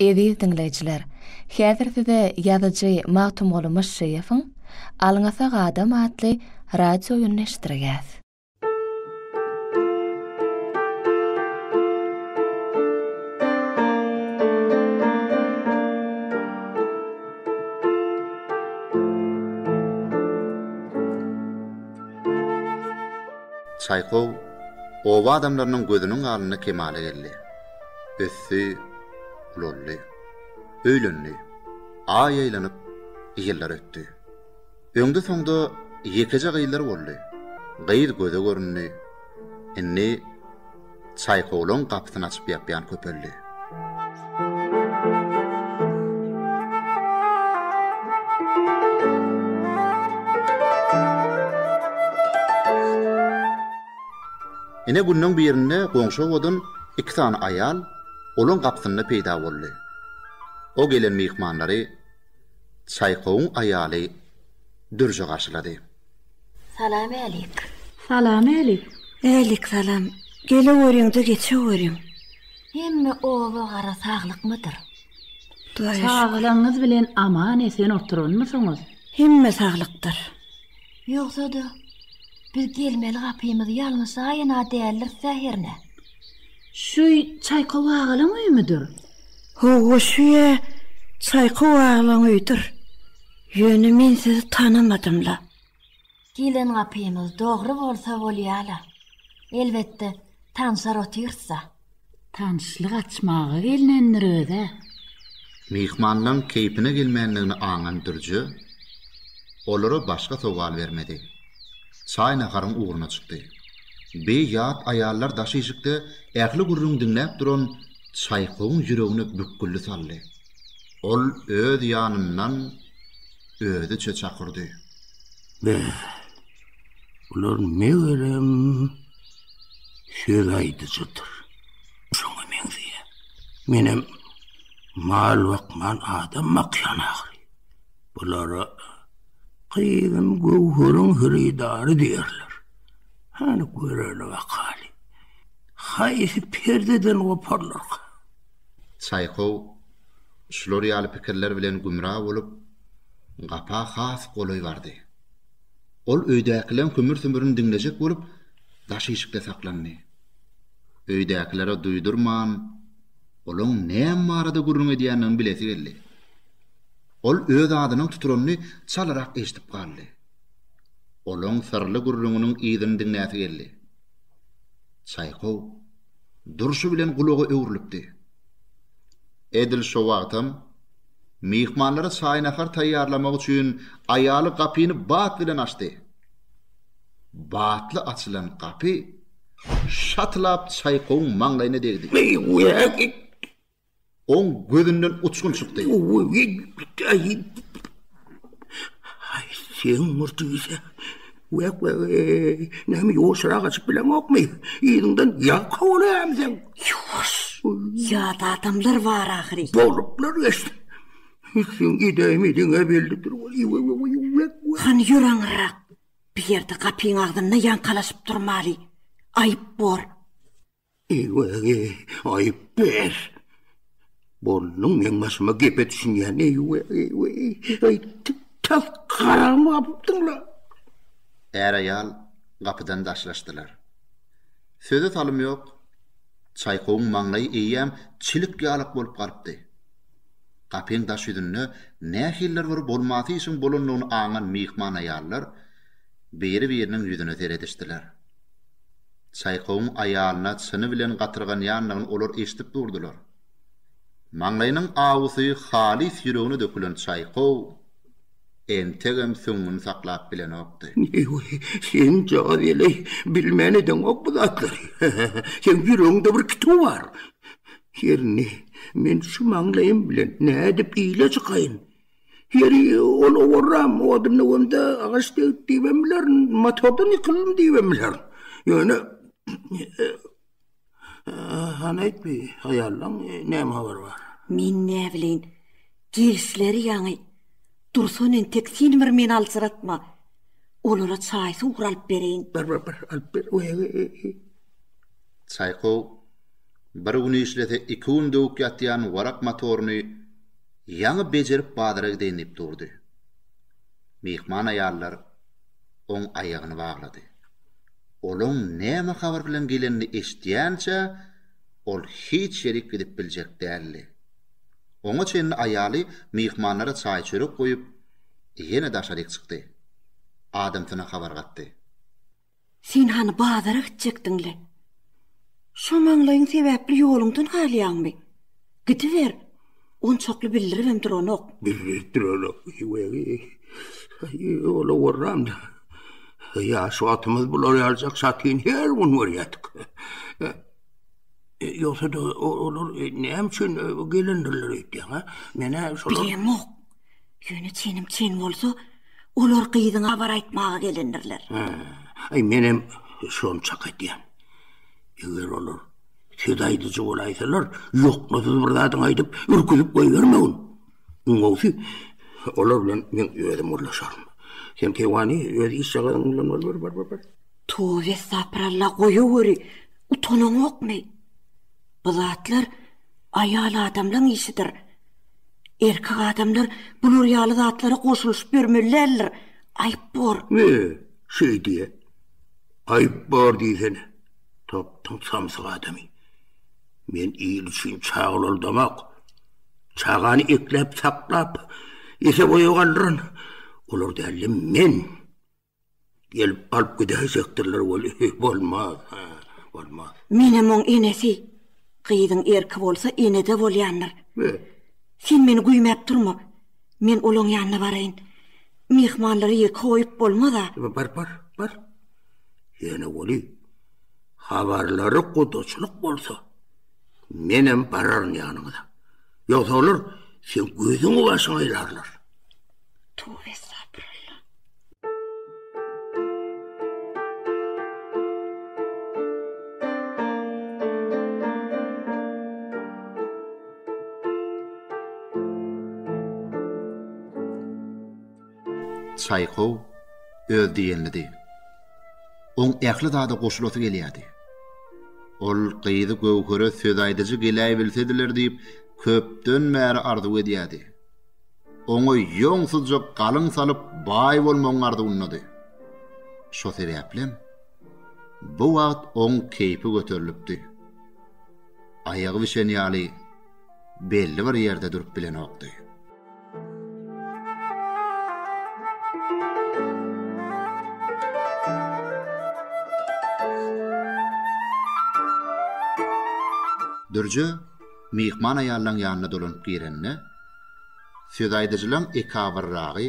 Eziz diňleýjiler, häzir size ýazyjy Magtymguly Myşşyýewiň Alňasak adam atly radio oýunyny eşitdirýäs. Çaýkow oba adamlarynyň gözüniň alnynda kemala geldi. ösdi, ulaldy. Öýlendi. Aý aýlanyp, ýyllar ötdi. Öňde-soňda ýekeje gyzlar boldy. Gyz göze göründi. Indi çaýkowlaň gapysyny açyp-ýapýan köpeldi. Ine günleň birinde goňşy obadan iki sany aýal olaň gapysynda peýda boldy. O gelen myhmanlary Çaýkowyň aýaly dürje garşylady. Salamalik. Salamalik. Äliksalam. Geleweriň-de geçeweriň. Hemme oba gara saglykmydyr? Sagalygyňyz bilen aman-esen oturanmysyňyz? Hemme saglykdyr. Ýogsa-da, biz gelmeli gapymyzy ýalňyşaýyn-a däldiris-ä hernä? Şu Çaýkow agalyň öýümidir? Hawa, şu-ä Çaýkow agalyň öýüdir. Ýöne men sizi tanamadym-la. Gelen gapymyz dogry bolsa bolýa-la. Elbetde, tanşar otyrys-a. Tanyşlyk açmaga gelnendir öz-ä. Myhmanlaň keýpine gelmändigini aňan Dürje olara başga sowal bermedi. Çaý-naharyň ugruna çykdy. Bi ýat aýallar daş işikde ähli gürrüňi diňläp duran Çaýkowyň ýüregine bükgülli saldy. Ol öz ýanyndan özüçe çakyrdy. Be, bular megerem söz aýdyjydyr. Şoňa meňzeýär. Menem mal bakman adam bakýan ahyry. Bulara gyzym göwheriň hyrydary diýerler. Hany göreli bakaly. Haýsy perdeden goparlarka? Çaýkow şular ýaly pikirler bilen gümra bolup, gapa has golaý bardy. Ol öýdäkileriň hümür-sümürini diňlejek bolup, daş işikde saklandy. Öýdäkilere duýdurman, olaň näme barada gürrüň edýändigini bilesi geldi. Ol öz adynyň tuturanyny çalyrak eşidip galdy. Olaň syrly gürrüňiniň yzyny diňläsi geldi. Çaýkow durşy bilen gulaga öwrülipdi. Edil şo wagtam. Myhmanlara çaý-nahar taýýarlamak üçin aýaly gapyny bat bilen açdy. Batly açylan gapy şatylap Çaýkowyň maňlaýyna degdi. Oň gözünden uçgun çykdy. Haý, sen murtugysä! Wek-we-weý, näme ýuwaşrak açyp bileňokmy? Yzyňdan ýag kowalaýarmy seň? Ýuwaş! Ýat adamlar bar ahyry. Boluplar geçsin. Hüsseň idäými diňe belli dur weli, we-we-weý, wek-we. Hany ýör aňyrrak. Bu ýerde gapyň agzynda ýaňkalaşyp durmaly. Aýyp bor. Eýwegi, aýyp ber! Bolnuň, meň başyma gepe düşünýän, eýweg, eýweg, eý, tas garagmy gapypdyň-la? Är-aýal gapydan daşlaşdylar. Söze salym ýok, Çaýkowyň maňlaýy eýýäm çilik ýalak bolup galypdy. Gapyň daş ýüzünde nähilidir bir bolmasy işiň bolandygyny aňan myhman aýallar biri-biriniň ýüzüne seredişdiler. Çaýkowyň aýalyna çyny bilen gatyrganýandygyny olar eşidip durdular. Maňlaýynyň awusy halys ýüregine dökülen Çaýkow entegem süňňüni saklap bilenokdy. Heý-we, sen jagaz ele bilmän edeňok bu zatlary. Seň ýüregiňde bir kituw bar. Her indi men şu maňlaýym bilen nädip ile çykaýyn? Heri ol owaram, odunly onda agaç degdi diýibem bilerin, motordan ýykyldym diýibem bilerin. Ýöne hany aýt bi, aýaldan näme habar bar? Men näbileýin, gelişleri ýaňy. Dursun entek sen bir meni aljyratma. Olara çaý-suw bir alyp bereýin. Bar, bar, bar, alyp ber. Çaý gowy. Bir gün işlese iki gün döwük ýatýan Warak motoryny ýaňy bejerip bazara gideýin diýip durdy. Myhman aýallar oň aýagyny baglady. Olaň näme habar bilen gelenini eşitýänçä ol hiç ýerik gidip biljek däldi. Oňa çenli aýaly myhmanlara çaý-çörek goýup, ýene daşaryk çykdy. Adamsyna habar gatdy. Sen hany bazara gitjekdiň-le? Şo maňlaýyň sebäpli ýoluňdan galýaňmy? Gidiber. Onçakly bildiribem duranok. Bildirip duranok, wegi. Ýola gorram-da. Ýaş wagtymyz bular ýaljak satyn her gün görýärdik. Ýogsa-da, olar näme üçin gelendirler öýtýäň-ä? Men-ä şolar... Bilemok. Ýöne çenim çen bolsa, olar gyzyňa habar aýtmaga gelendirler. Aý, menem şonçak aýdýan. Eger olar söz aýdyjy bolaýsalar, ýoknasyz bir zadyňy aýdyp, ürküzip goýbermegin. Iň gowusy, olar bilen men özüm gürleşerin. Sen Keýwany öz işjagazyň bilen boluberi, bar, bar, bar. Tobe estapyralla, goýaweri, utanaňokmy? Bu zatlar aýal adamlaň işidir. Erkek adamlar bular ýaly zatlara goşulyşyp ýörmeli däldir. Aýyp bor. Be, şeýdi-ä. Aýyp bor diýsene. Tapdyň samsyk adamy. Men il üçin çag ulaldamak, çagany ekläp-saklap, ese-boýa galdyran olar däldim men. Gelip alyp gidäýjekdirler weli, bolmaz, hä, bolmaz. Menem oň enesi. Gyzyň erki bolsa ene-de bolýandyr. Be. Sen meni güýmäp durma. Men olaň ýanyna baraýyn. Myhmanlary ýeke goýup bolmaz-a. Be, bar, bar, bar. Ýöne weli, habarlary gudaçylyk bolsa, menem bararyn ýanyňyza. Ýogsa olar seň gözüňi-başyňy aýlarlar. Tüwi estagfirullah. Çaýkow öz diýenlidi. Oň ähli zada goşulasy gelýärdi. Ol gyzy Göwhere söz aýdyjy geläýbilsediler diýip, köpden bäri arzuw edýärdi. oňa ýoňsuzja galyň salyp baý bolmagyň arzuwyndady. Şo sebäplem, bu wagt oň keýpi göterilipdi. Aýagy bişen ýaly belli bir ýerde durup bilenokdy. Dürje myhman aýallaň ýanyna dolanyp girende, Sözaýdyjylaň ekabyrragy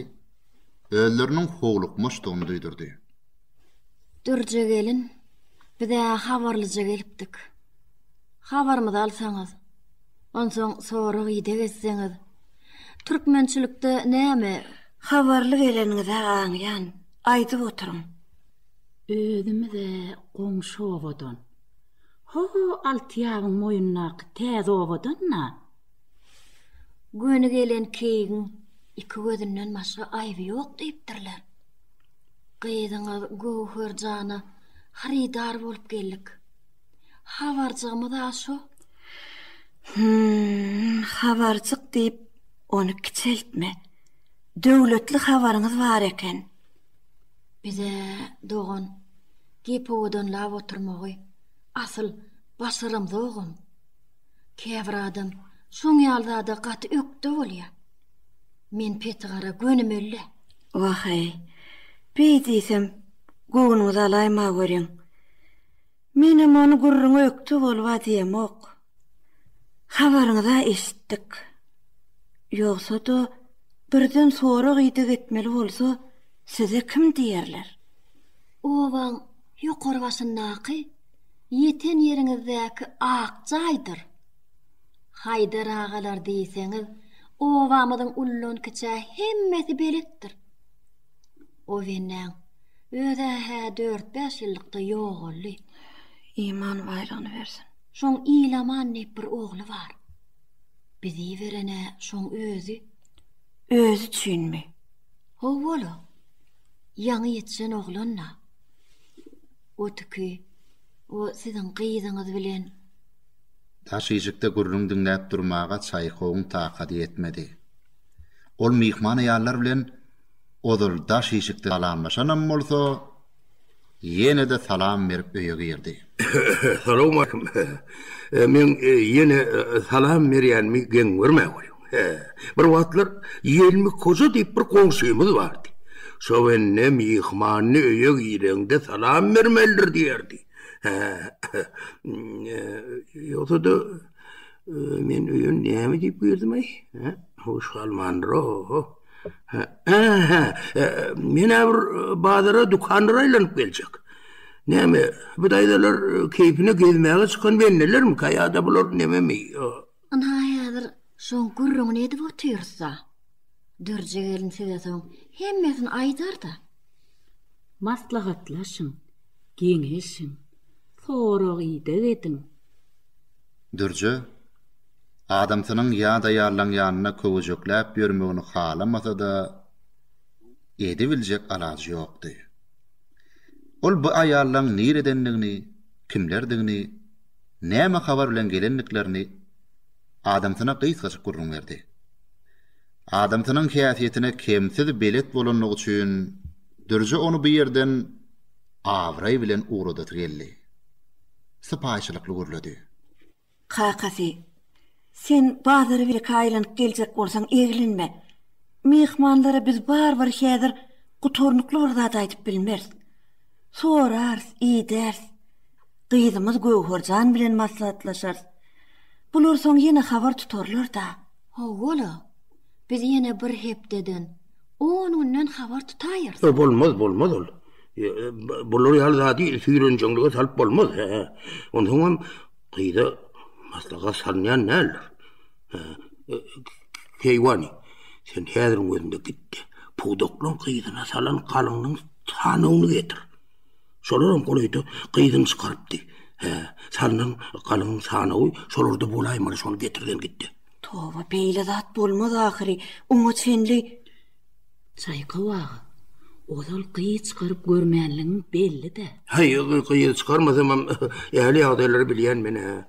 özleriniň howlukmaçdygyny duýdurdy. Dürje gelin, biz-ä habarlyja gelipdik. Habarymyzy alsaňyz, onsoň sorag-ideg etseňiz, türkmençilikde näme. Habarly geleniňiz-ä aňýan, aýdyp oturyň. Özümiz-ä goňşy obadan. Ho-ho Altyýabyň moýundaky täze obadan-da. Göni gelen keýigiň iki gözünden başga aýby ýok diýipdirler. Gyzyňyz Göwher jana hyrydar bolup geldik. Habarjygymyz-a şu. Hüm, habarjyk diýip, ony kiçeltme. Döwletli habaryňyz bar eken. Biz-ä, dogan, gep owadanlap oturmagy asyl başaramzogam. Käbir adam şoň ýaly zada gaty ökde bolýar. Men peti gara gönümel-le. Waheý, beý diýsem, göwnüňizi alaýma görüň. Menem ony gürrüňe ökde boluba diýemok. Habaryňyz-a eşitdik. Ýogsa-da, birden sorag-ideg etmeli bolsa, size kim diýerler? Obaň ýokary başyndaky ýeten ýeriňizdäki ak jaýdyr. Haýdar agalar diýseňiz, obamyzyň ullan-kiçä hemmesi beletdir. Obenäň özä-hä dört-bäş ýyllykda ýogaldy. Iman baýragyny bersin. Şoň Ilaman diýip bir ogly bar. Bizi beren-ä şoň özi. Özi üçinmi? Ho-ol-a. Ýaňy ýetişen oglan-da. Otüki, o siziň gyzyňyz bilen. Daş işikde gürrüň diňläp durmaga Çaýkowyň takady ýetmedi. Ol myhman aýallar bilen ozal daş işikde salamlaşanam bolsa, ýene-de salam berip öýe girdi. Salowmaleýkim. Men ýene salam berýänimi geň görmäweri. He, bir wagtlar Ýelmi Koja diýip bir goňşymyz bardy. Şo bende myhmanyny öýe gireňde salam bermelidir diýerdi. He, ýogsa-da, men öýe näme diýip girdim-aý? He, hoş galmandyr-ow. He-he, men-ä bir bazara, dükanlara aýlanyp geljek. Näme, bu daýzalar keýpine gezmäge çykan bendelermika ýa-da bular nememi? Ynha, häzir şoň gürrüňini edip otyrys-a. Dürje gelin size soň hemmesini aýdar-da. Maslahatlaşyň, geňeşiň, sorag-ideg ediň. Dürje, adamsynyň ýadaýarlaň ýanynda köwejekläp ýörmegini halamasa-da, edibiljek alajy ýokdy. Ol bu aýallaň niredendigini, kimlerdigini. näme habar bilen gelendiklerini adamsyna gysgajyk gürrüň berdi. Adamsynyň häsiýetine kemsiz belet bolanlygy üçin Dürje ony bu ýerden abraý bilen ugradasy geldi. Sypaýyçylykly gürledi. Kakasy. Sen bazara bireke aýlanyp geljek bolsaň eglenme. Myhmanlara biz barybir häzir gutarnykly bir zat aýdyp bilmeris. Sorarys, idäris. Gyzymyz Göwherjan bilen maslahatlaşarys. Bular soň ýene habar tutarlar-da. Hawa-la. Biz ýene bir hepdeden, on günden habar tutaýarys. Ýok, bolmaz, bolmaz ol. Bular ýaly zady süýrenjeňlige salyp bolmaz. Onsoňam. gyza maslahat salynýan däldir. Keýwany, sen häziriň özünde gitdi. Pudaklyň gyzyna salan galyňyň sanawyny getir. Şolaram golaýda gyzyny çykarypdy. Hä, salynan galyňyň sanawy şolarda bolaýmaly, şony getirgen gitdi. Toba, beýle zat bolmaz ahyry. Oňa çenli. Çaýkow aga, ozal gyz çykaryp görmänligiň belli-dä. Häý, gyz çykarmasamam, ähli ýagdaýlary bilýän men-ä.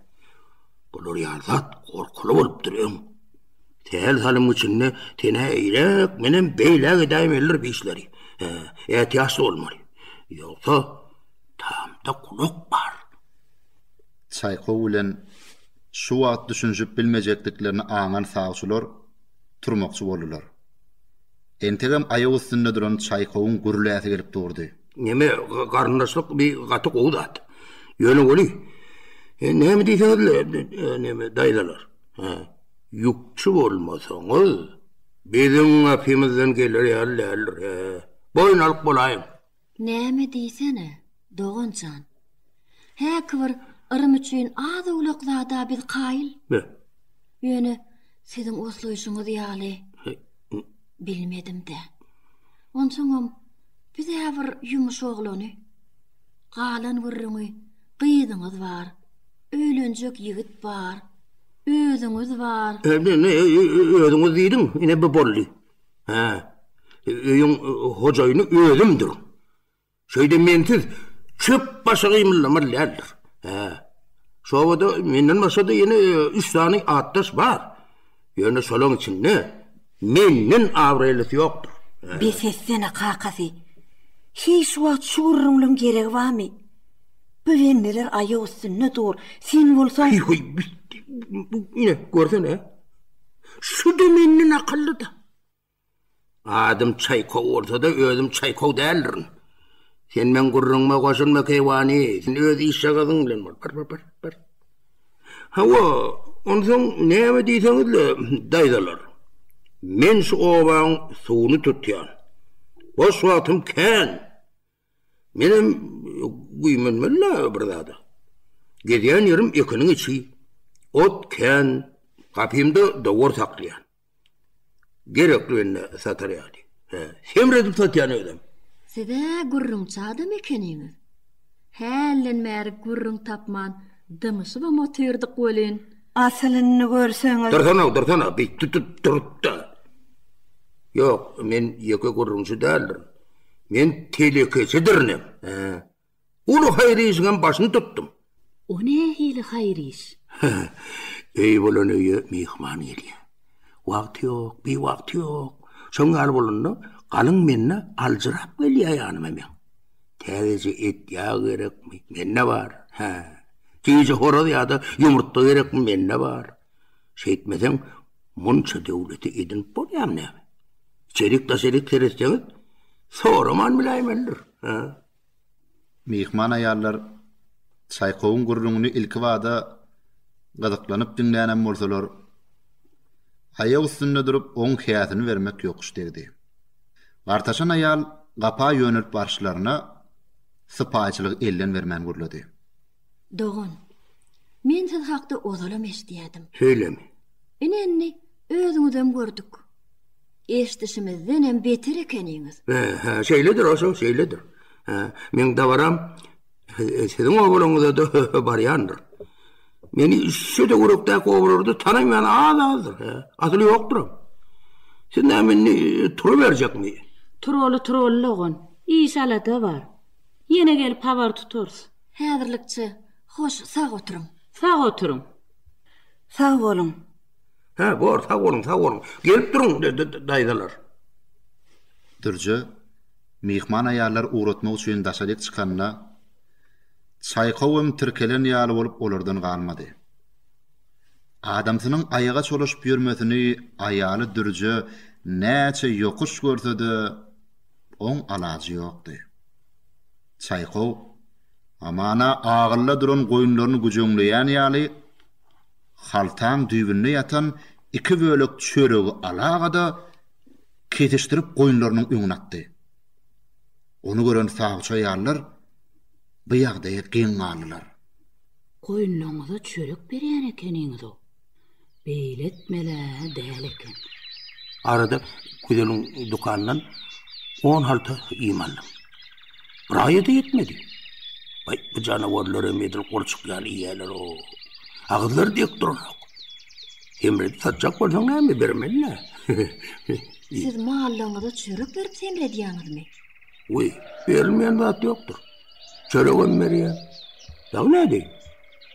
Bular ýaly zat gorkuly bolupdyr, öň. Sähel-salym içinde sen-ä eýläk, menem beýläk edäýmelidir bi işleri. Hä, ätiýaçly bolmaly. Ýogsa, tamda gulak bar. Çaýkow bilen şu wagt düşünişip bilmejekdiklerini aňan sawçylar. turmakçy boldular. Entegem aýak üstünde duran Çaýkowyň gürläsi gelip durdy. Neme, garyndaşlyk bi gaty gowy zat. Ýöne weli, näme diýseňiz-le, neme, daýzalar, hä, ýükçi bolmasaňyz, biziň gapymyzdan geler ýaly däldir, hä. Boýun alyp bolaýyň. Näme diýsene, dogan jan. Häki bir yrym üçin az-owlak zada biz kaýyl. Be. Ýöne siziň oslaýşyňyz ýaly bilmedim-dä. Onsoňam biz-ä bir ýumuş oglany. Galan gürrüňi gyzyňyz bar, öýlenjek ýigit bar, özüňiz bar. Özüňiz diýdim, ine bu boldy. Hä. Öýüň hojaýyny özümdir. Şeýde mensiz çöp başy gymyldamaz däldir. Hä. Şobada menden başga-da ýene üç sany atdaş bar. Ýöne şolaň içinde menden abraýlysy ýokdur. Bes etsene, kakasy. Heý, şu wagt şu gürrüňleň geregi barmy? Böwendeler aýak üstünde dur. Sen bolsaň. Heý, heý, ine, görsene. Şu-da menden akylly-da. Adym Çaýkow bolsa-da, özüm Çaýkow däldirin. Sen meň gürrüňime goşulma, keýwany, sen öz işjagazyň bilen bol. Bir, bir, bir, bir. Hawa, onsoň näme diýseňiz-le, daýzalar. Men şu obaň suwuny tutýan. Boş wagtym kän. Menem güýmenmeli-le bir zada. Gezýän ýerim ekiniň içi. Ot kän. Gapymda dowar saklaýan. Gerekli bende satar ýaly. Hä, semredip satýan özem. Siz-ä gürrüňçi adam ekeniňiz. Hälden bäri gürrüň tapman dymyşybam otyrdyk welin. Asyl indi görseňiz. Dursana, dursana, bir tut-tut durup-da. Ýok, men ýeke gürrüňçi däldirin. Men telekeçidirinem. Uly haýyr işiňem başyny tutdum. O nähili haýyr iş? Öýi bolan öýe myhman gelýär. Wagty ýok, biwagty ýok. Şoň ýaly bolanda, galyň mende aljyrap gelýär ýanyma meň. Täzeje et-ýag gerekmi? Mende bar. Hä. Tüýji horaz ýa-da ýumurtga gerekmi? Mende bar. Şeýtmeseň, munça döwleti edinip bolýarmy näme? Çelik da çelik seretseňiz, soraman biläýmelidir. Myhman aýallar Çaýkowyň gürrüňini ilkibada gyzyklanyp diňlänem bolsalar, aýak üstünde durup, oň häsini bermek ýokuş degdi. Gartaşan aýal gapa ýönelip barşlaryna sypaýyçylygy elden bermän gürledi. Dogan, men siz hakda ozalam eşidýärdim. Söýleme. Ine-indi özüňizem gördük. Eşidişimizdenem beter ekeniňiz. Hä-hä, şeýledir, oşo, şeýledir. Hä, meň dabaram siziň obalaňyza-da barýandyr. Meni şu töwerekdäki obalarda tanaýan az-azdyr, hä, asyl ýokduram. Siz näme indi turuberjekmi? Turaly-turaly dogan, iş-alada bar. Ýene gelip habar tutarys. Häzirlikçe, hoş, sag oturyň. Sag oturyň. Sag boluň. Hä, bor, sag boluň, sag boluň. Gelip duruň, daýzalar. Dürje, myhman aýallary ugratmak üçin daşaryk çykanda, Çaýkowym tirkelen ýaly bolup olardan galmady. Adamsynyň aýaga çolaşyp ýörmesini aýaly Dürje näçe ýokuş görse-de, oň alajy ýokdy. Çaýkow, Amana agylla duran goýunlaryny güjeňleýän ýaly, haltaň düýbünde ýatan iki bölek çöregi alagada kesişdirip goýunlarynyň öňüne atdy. Ony gören sawça ýallar bu ýagdaýa geň galdylar. Goýunlaryňyza çörek berýän ekeniňiz-ow. beýle etmeli-ä däl eken. Arada Güzeliň dükanyndan on halta iým aldym. Bir aýa-da ýetmedi. Baý, bu janawarlar hem edil gurçuk ýaly iýýärler-ow. Agyzlary dek duranok. Hemredi satjak bolsaň näme bermeli-ä? Siz mallaryňyza çörek berip hemredýäňizmi? Wiý, berilmeýän zat ýokdur. Çöregem berýän. Dagy nädeýin?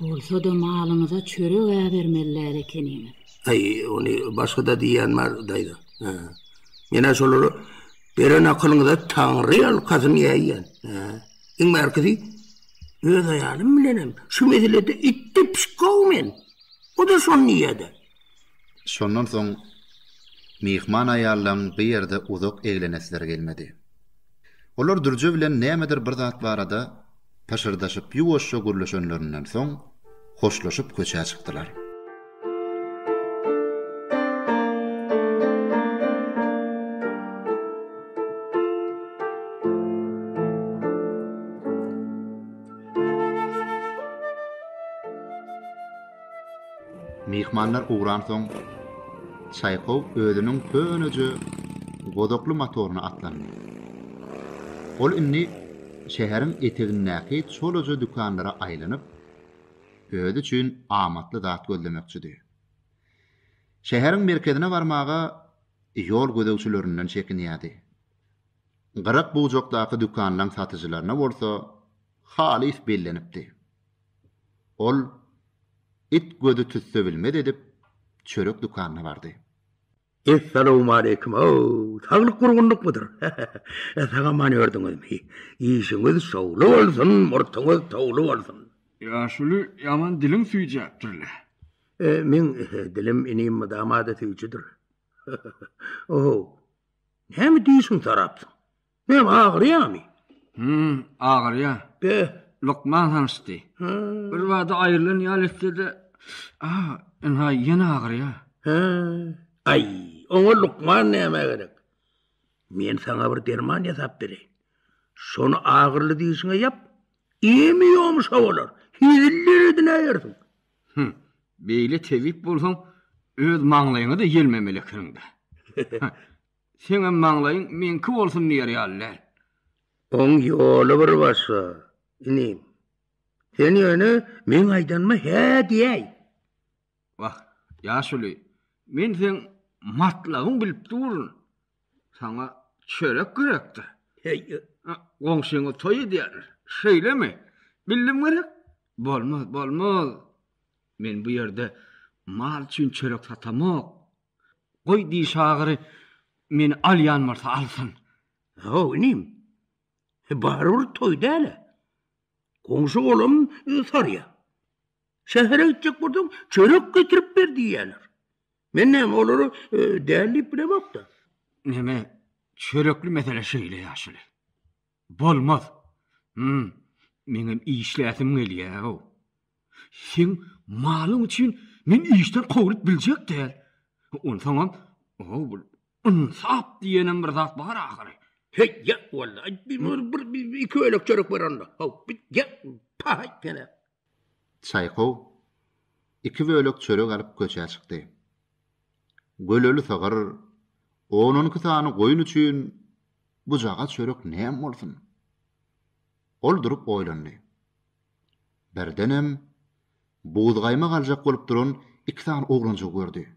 Bolsa-da malyňyza çörek äbermeliler ekeniňiz. Aý, ony başga-da diýýän bar, daýza. Hä. Men-ä şolary beren akylyňyza Taňry ýalkasyn eýýän. Hä. Iň bärkisi öz aýalym bilenem şu meselede itde pişik gowy men. O-da şony diýýä-de. Şondan soň myhman aýallaň bu ýerde uzak eglenesleri gelmedi. Olar Dürje bilen nämedir bir zat barada pyşyrdaşyp ýuwaşja gürleşenlerinden soň hoşlaşyp köçä çykdylar. Myhmanlar ugransoň, Çaýkow özüniň köneje gozakly motoryna atlandy. Ol indi şäheriň etegindäki çolaja dükanlara aýlanyp, özi üçin amatly zat gözlemekçidi. Şäheriň merkezine barmaga ýol gözegçilerinden çekinýärdi. Gyrak bujakdaky dükanlaň satyjylaryna bolsa halys bellenipdi. Ol it gözi tüsse bilmez edip çörek dükanyna bardy. Essalowmaleýkim-ow! Saglyk gurgunlykmydyr? He-he-he! Sag aman ördüňizmi? Işiňiz şowly bolsun, murtuňyz towly bolsun! Ýaşuly ýaman diliň süýjäpdir-le? Meň dilim inim mydama-da süýjüdir. He-he-he! Ow-ow! Näme diýşiň sorapsyň? Menem agyrýamy? Hum, agyrýa. Be. Lukman hanyşdy. Birbada aýrylan ýaly etse-de, ah, ynha, ýene agyrýa. He. Aý, oňa lukman nämä gerek? Men saňa bir derman ýasap bereýin. Şony agyryly dişiňe ýap. Ýemi ýomuşa bolar. Heziller edinäýersiň. Hum, beýle tebip bolsaň, öz maňlaýyňa-da ýelmemeli ekeniň-dä. Seňem maňlaýyň meňki bolsun diýer ýaly däl. Oň ýoly bir başga, inim. Sen ýöne meň aýdanyma hä diýäý. Wah, ýaşuly, men seň matlabyňy bilip durun. Saňa çörek gerekdir. Heý, goňşyňyz toý edýärler, şeýlemi? Bildim gerek. Bolmaz, bolmaz. Men bu ýerde mal üçin çörek satamok. Goý diý şagyry meni alýan bolsa alsyn. Haw inim. Barybir toý däl-ä. Goňşy golam sarýa. Şähere gitjek bolsaň çörek getirip ber diýýäler. Men näme olara däl diýip bilemok-da. Neme çörekli mesele şeýle ýaşuly. Bolmaz. Hum, meňem işläsim gelýär-ow. Seň malyň üçin men işden kowlup biljek däl. Onsoňam, o-ow, bir ynsap diýenem bir zat bar ahyry. Heý, ýat walla. Aý, bir-bir-bir-bir köýnekçerik ber onda. Haw, bir ýat, paý, pelek. Çaýkow iki bölek çörek alyp köçä çykdy. Göleli sygyr, on-on iki sany goýun üçin bujagaz çörek näme bolsun? Ol durup oýlandy. Birdenem buzgaýmak aljak bolup duran iki sany oglanjygy gördi.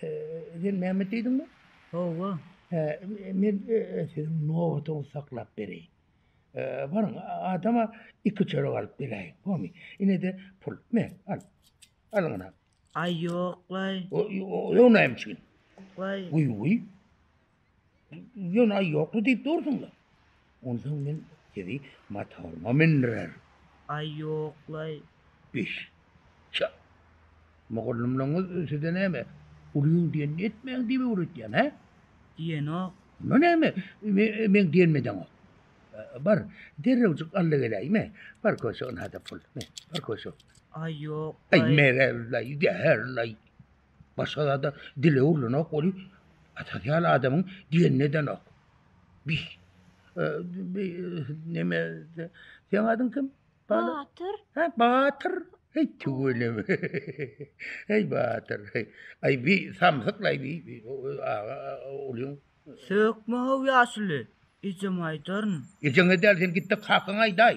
Sen Mehmet diýdiňmi? Hawa. Hä, men siziň nobatuňyzy saklap bereýin. Baryň, adama iki çörek alyp beräýiň, bolmy? Ine-de pul. Men, al. Alyň ynha. Aý, ýok-laý. Ýognayam içgin. Waý. Guý, guý. Ýöne aý ýokdy diýip dursuňlar. Onsoň men sizi motoryma mindirer. Aý ýoklaý. Biş. Çy. Mugallymlaryňyz size näme, ulyň diýenini etmäň diýip öwretýän, hä? Diýenok. Onda näme, meň diýenime deňok. Bar, derrewjik al-da geläýme. Bar köşegini-hada pul. Bar köşek. Aý ýoklaý. Aý merel-laý, zäher-laý. Başga zada dile urlanok ol asosial adamyň diýenini edenok. Biz neme sen adyň kim? Batyr. Ha Batyr. Hey tüweleme. Hey Batyr. Ay bi samsyklay bi bi aga olyň. Sökme haw ýaşuly. Ejem aýdaryn. Ejeň edel sen gitde kakyň aýdaý.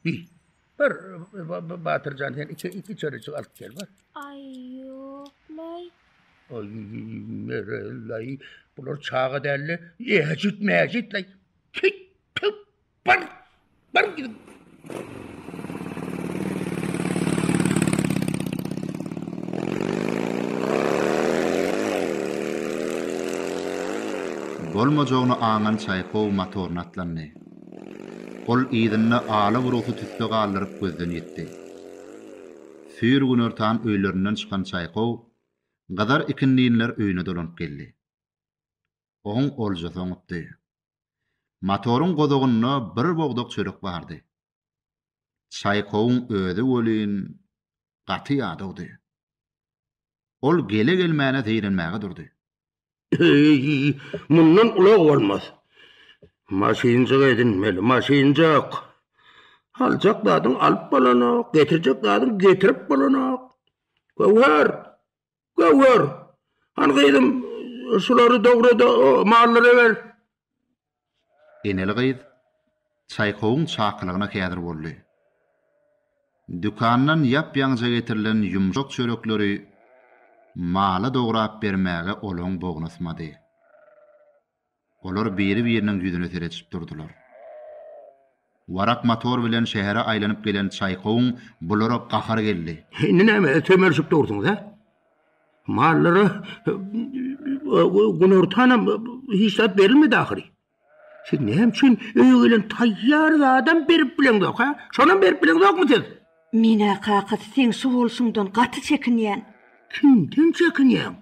Bil. Bir Batyrjan sen iki iki çörüçi alyp gel bir. Ay yoklay. Ay merellay. Bular çaga dälli. Ejit mejit lay. Kit tup bir. Bir gidip. Bolmajagyny aňan Çaýkow motoryny atlandy. Ol yzynda ala burgusy tüsse galdyryp gözden ýitdi. Süýr günortan öýlerinden çykan çaýkow gyzar ikindinler öýüne dolanyp geldi. Oň oljasy oňupdy. Motoryň gozagynda bir bogdak çörek bardy. Çaýkowyň özi welin gaty ýadawdy. Ol gele-gelmäne zeýrenmäge durdy. Eý, mundan ulag bolmaz. Maşynjyk edinmeli, maşynjyk. Aljak zadyň alyp bolanok, getirjek zadyň getirip bolanok. Göwher! Göwher! Hany gyzym, şulary dogra-da, o mallary ber. Eneli gyz Çaýkowyň çakylygyna häzir boldy. Dükandan ýap-ýaňyja getirilen ýumşak çörekleri Mala dograp bermäge olaň bognusmady. Olar biri-biriniň ýüzüne seredişip durdular. Warak motor bilen şähere aýlanyp gelen Çaýkowyň bulara gahary geldi. Indi nämä sömelişip dursuňyz, hä? Mallara günortanam hiç zat berilmedi ahyry. Siz näme üçin öýe gelen taýýar zadam berip bileňzok, hä? Şonam berip bileňzokmy siz? Men-ä kakasy seň şu bolşuňdan gaty çekinýän. Kimden çekinýäň?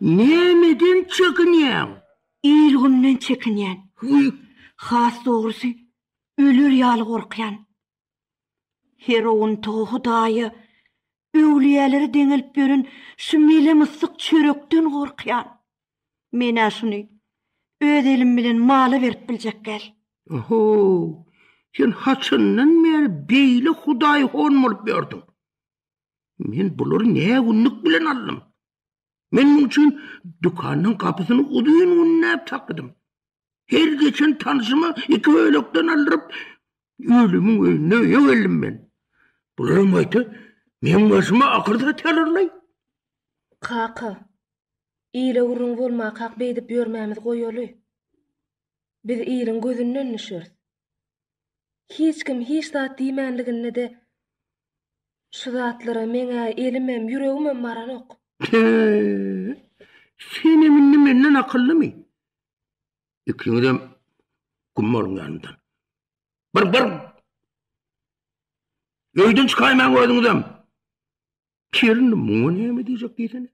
Nämeden çekinýäň? Il-günden çekinýän. Hüý, has dogrusy, öler ýaly gorkýan. Herowuntygy Hudaýa, öwlüýälere deňelip ýören şu mele-myssyk çörekden gorkýan. Men-ä şuny öz elim bilen mala berip biljek gel. Oho, sen haçandan bäri beýle hudaýhon bolup ýördüň? Men bulary nägünlük bilen aldym? Men muň üçin dükanyň gapysyny uzyn günnäp takydym. Her geçen tanşyma iki bölekden aldyryp, ölümiň öýüne öýe geldim men. Bularam gaýta meň başyma akyr satýarlarlaý. Kaka, ile gürrüň bolmakak beýdip ýörmämizi goýaly. Biz iliň gözünden düşeris. Hiç kim hiç zat diýmänliginde-de şu zatlara meň-ä elimem, ýüregimem baranok. Tüü! Senem indi menden akyllymy? Ikiňizem güm boluň ýanymdan. Bir, bir! Öýden çykaýmaň özüňizem! Kerin indi muňa näme diýjek diýsene.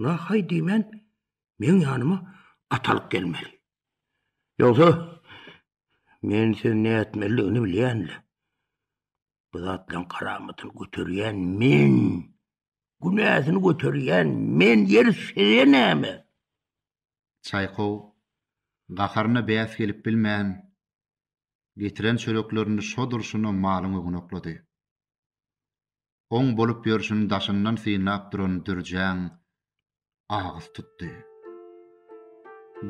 Nahaý diýmän, meň ýanyma atalyk gelmeli. Ýogsa, Men sen nätmeliligini bilýän-le. Bu zatlaryň karamatyny göterýän men. Günäsini göterýän men ýer size näme? Çaýkow gaharyna bäs gelip bilmän, getiren çöreklerini şo durşuna malyň öňüne oklady. oň bolup ýörşüni daşyndan synlap duran Dürjäň agyz tutdy.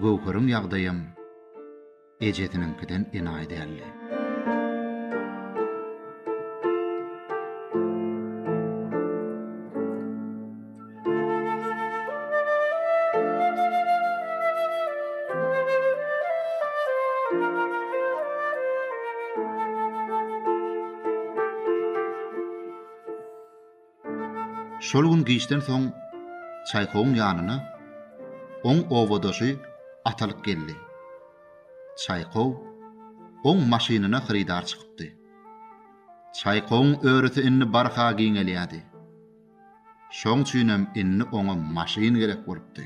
Göwheriň ýagdaýam ejesiniňkiden enaýy däldi. Şol gün giçden soň Çaýkowyň ýanyna oň owadaşy Atalyk geldi. Çaýkow oň maşynyna hyrydar çykypdy. Çaýkowyň örüsi indi barha giňelýärdi. Şoň üçinem indi oňa maşyn gerek bolupdy.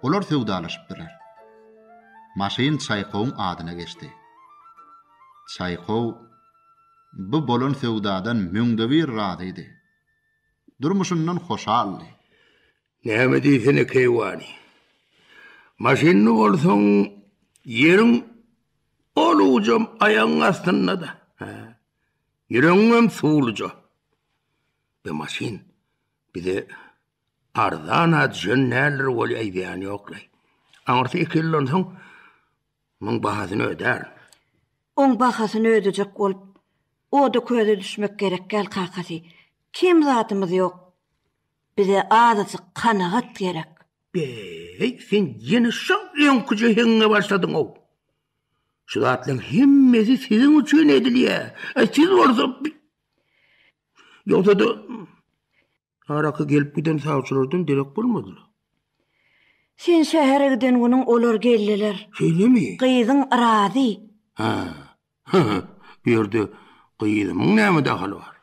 Olar söwdalaşypdyrlar. Maşyn Çaýkowyň adyna geçdi. Çaýkow bu bolan söwdadan müňdebir razydy. Durmuşyndan hoşaldy. Näme diýsene, keýwany. Maşynly bolsaň, ýeriň ol ujam aýagyň astynda-da. Ýüregiňem suwluja. Be maşyn bize arzana düşen näler bolýa aýdýan ýoklaý. Aňyrsy iki ýyldan soň muň bahasyny ödär. Oň bahasyny ödejek bolup oda köze düşmek gerek däl kakasy. Kem zadymyz ýok. Bize azajyk kanagat gerek. Be-eý, sen ýene şol öňki jehiňe başladyň-ow. Şu zatlaryň hemmesi siziň üçin edilýär. Aý, siz bolsa bi-. Ýogsa-da, araka gelip giden sawçylardan derek bolmadylar. Sen şähere giden günüň olar geldiler. Şeýlemi? Gyzyň yrazy. Hä, hy-hy, bu ýerde gyzymyň näme dahaly bar?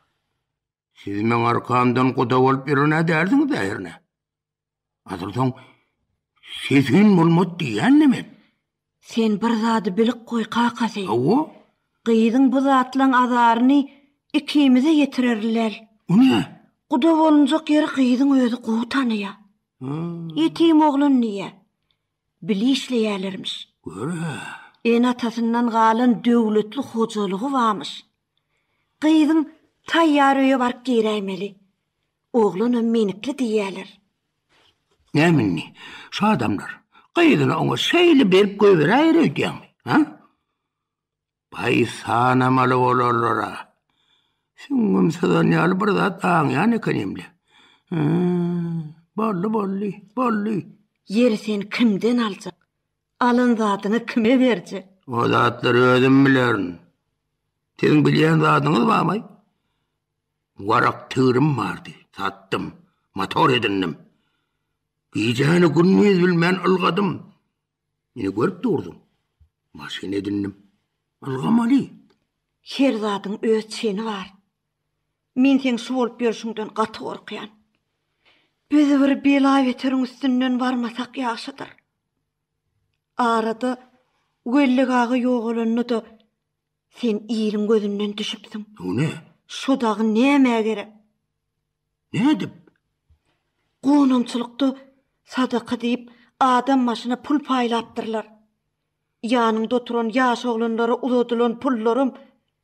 Siz meň arkamdan guda bolup ýören-ä dälsiňiz-ä hernä? Azyrdan sesün bolmat diýen neme? Sen bir zady bilip goý, kakasy. Awa? Gyzyň bu zatlaň azaryny ikimize ýetirerler. O ne? Guda bolunjak ýeri gyzyň özi gowy tanaýa. Ýetim oglan diýä. Bile işleýärlermiş. Görä. Ene-atasyndan galan döwletli hojalygy barmyş. Gyzyň taýýar öýe baryp giräýmeli. Oglanam menikli diýýärler. Näme indi, şu adamlar gyzyny oňa şeýle berip goýberäýer öýdýäňmi? Hä? Baý sanamaly bolarlar-a. Süňňüm syzan ýaly bir zat aňýan ekenim-le. Hä-ä-ä, boldy, boldy, boldy. Ýeri sen kimden aljak? Alan zadyňy kime berjek? O zatlary özüm bilerin. Siziň bilýän zadyňyz barmy? Warak tigrim bardy, satdym, motor edindim. Gijäni gündiz bilmän ylgadym. Ine görüp durduň. Maşyn edindim. Ylgamaly. Her zadyň öz çeni bar. Men seň şu bolup ýörşüňden gaty gorkýan. Biz bir bela-beteriň üstünden barmasak ýagşydyr. Arada Weli aga ýogalanda-da Sen iliň gözünden düşüpsiň. Bu ne? Şu dagy nämä gerek? Nädip? Gonamçylykda sadaka diýip adam başyna pul paýlapdyrlar. Ýanyňda oturan ýaş oglanlara uzadylan pullaram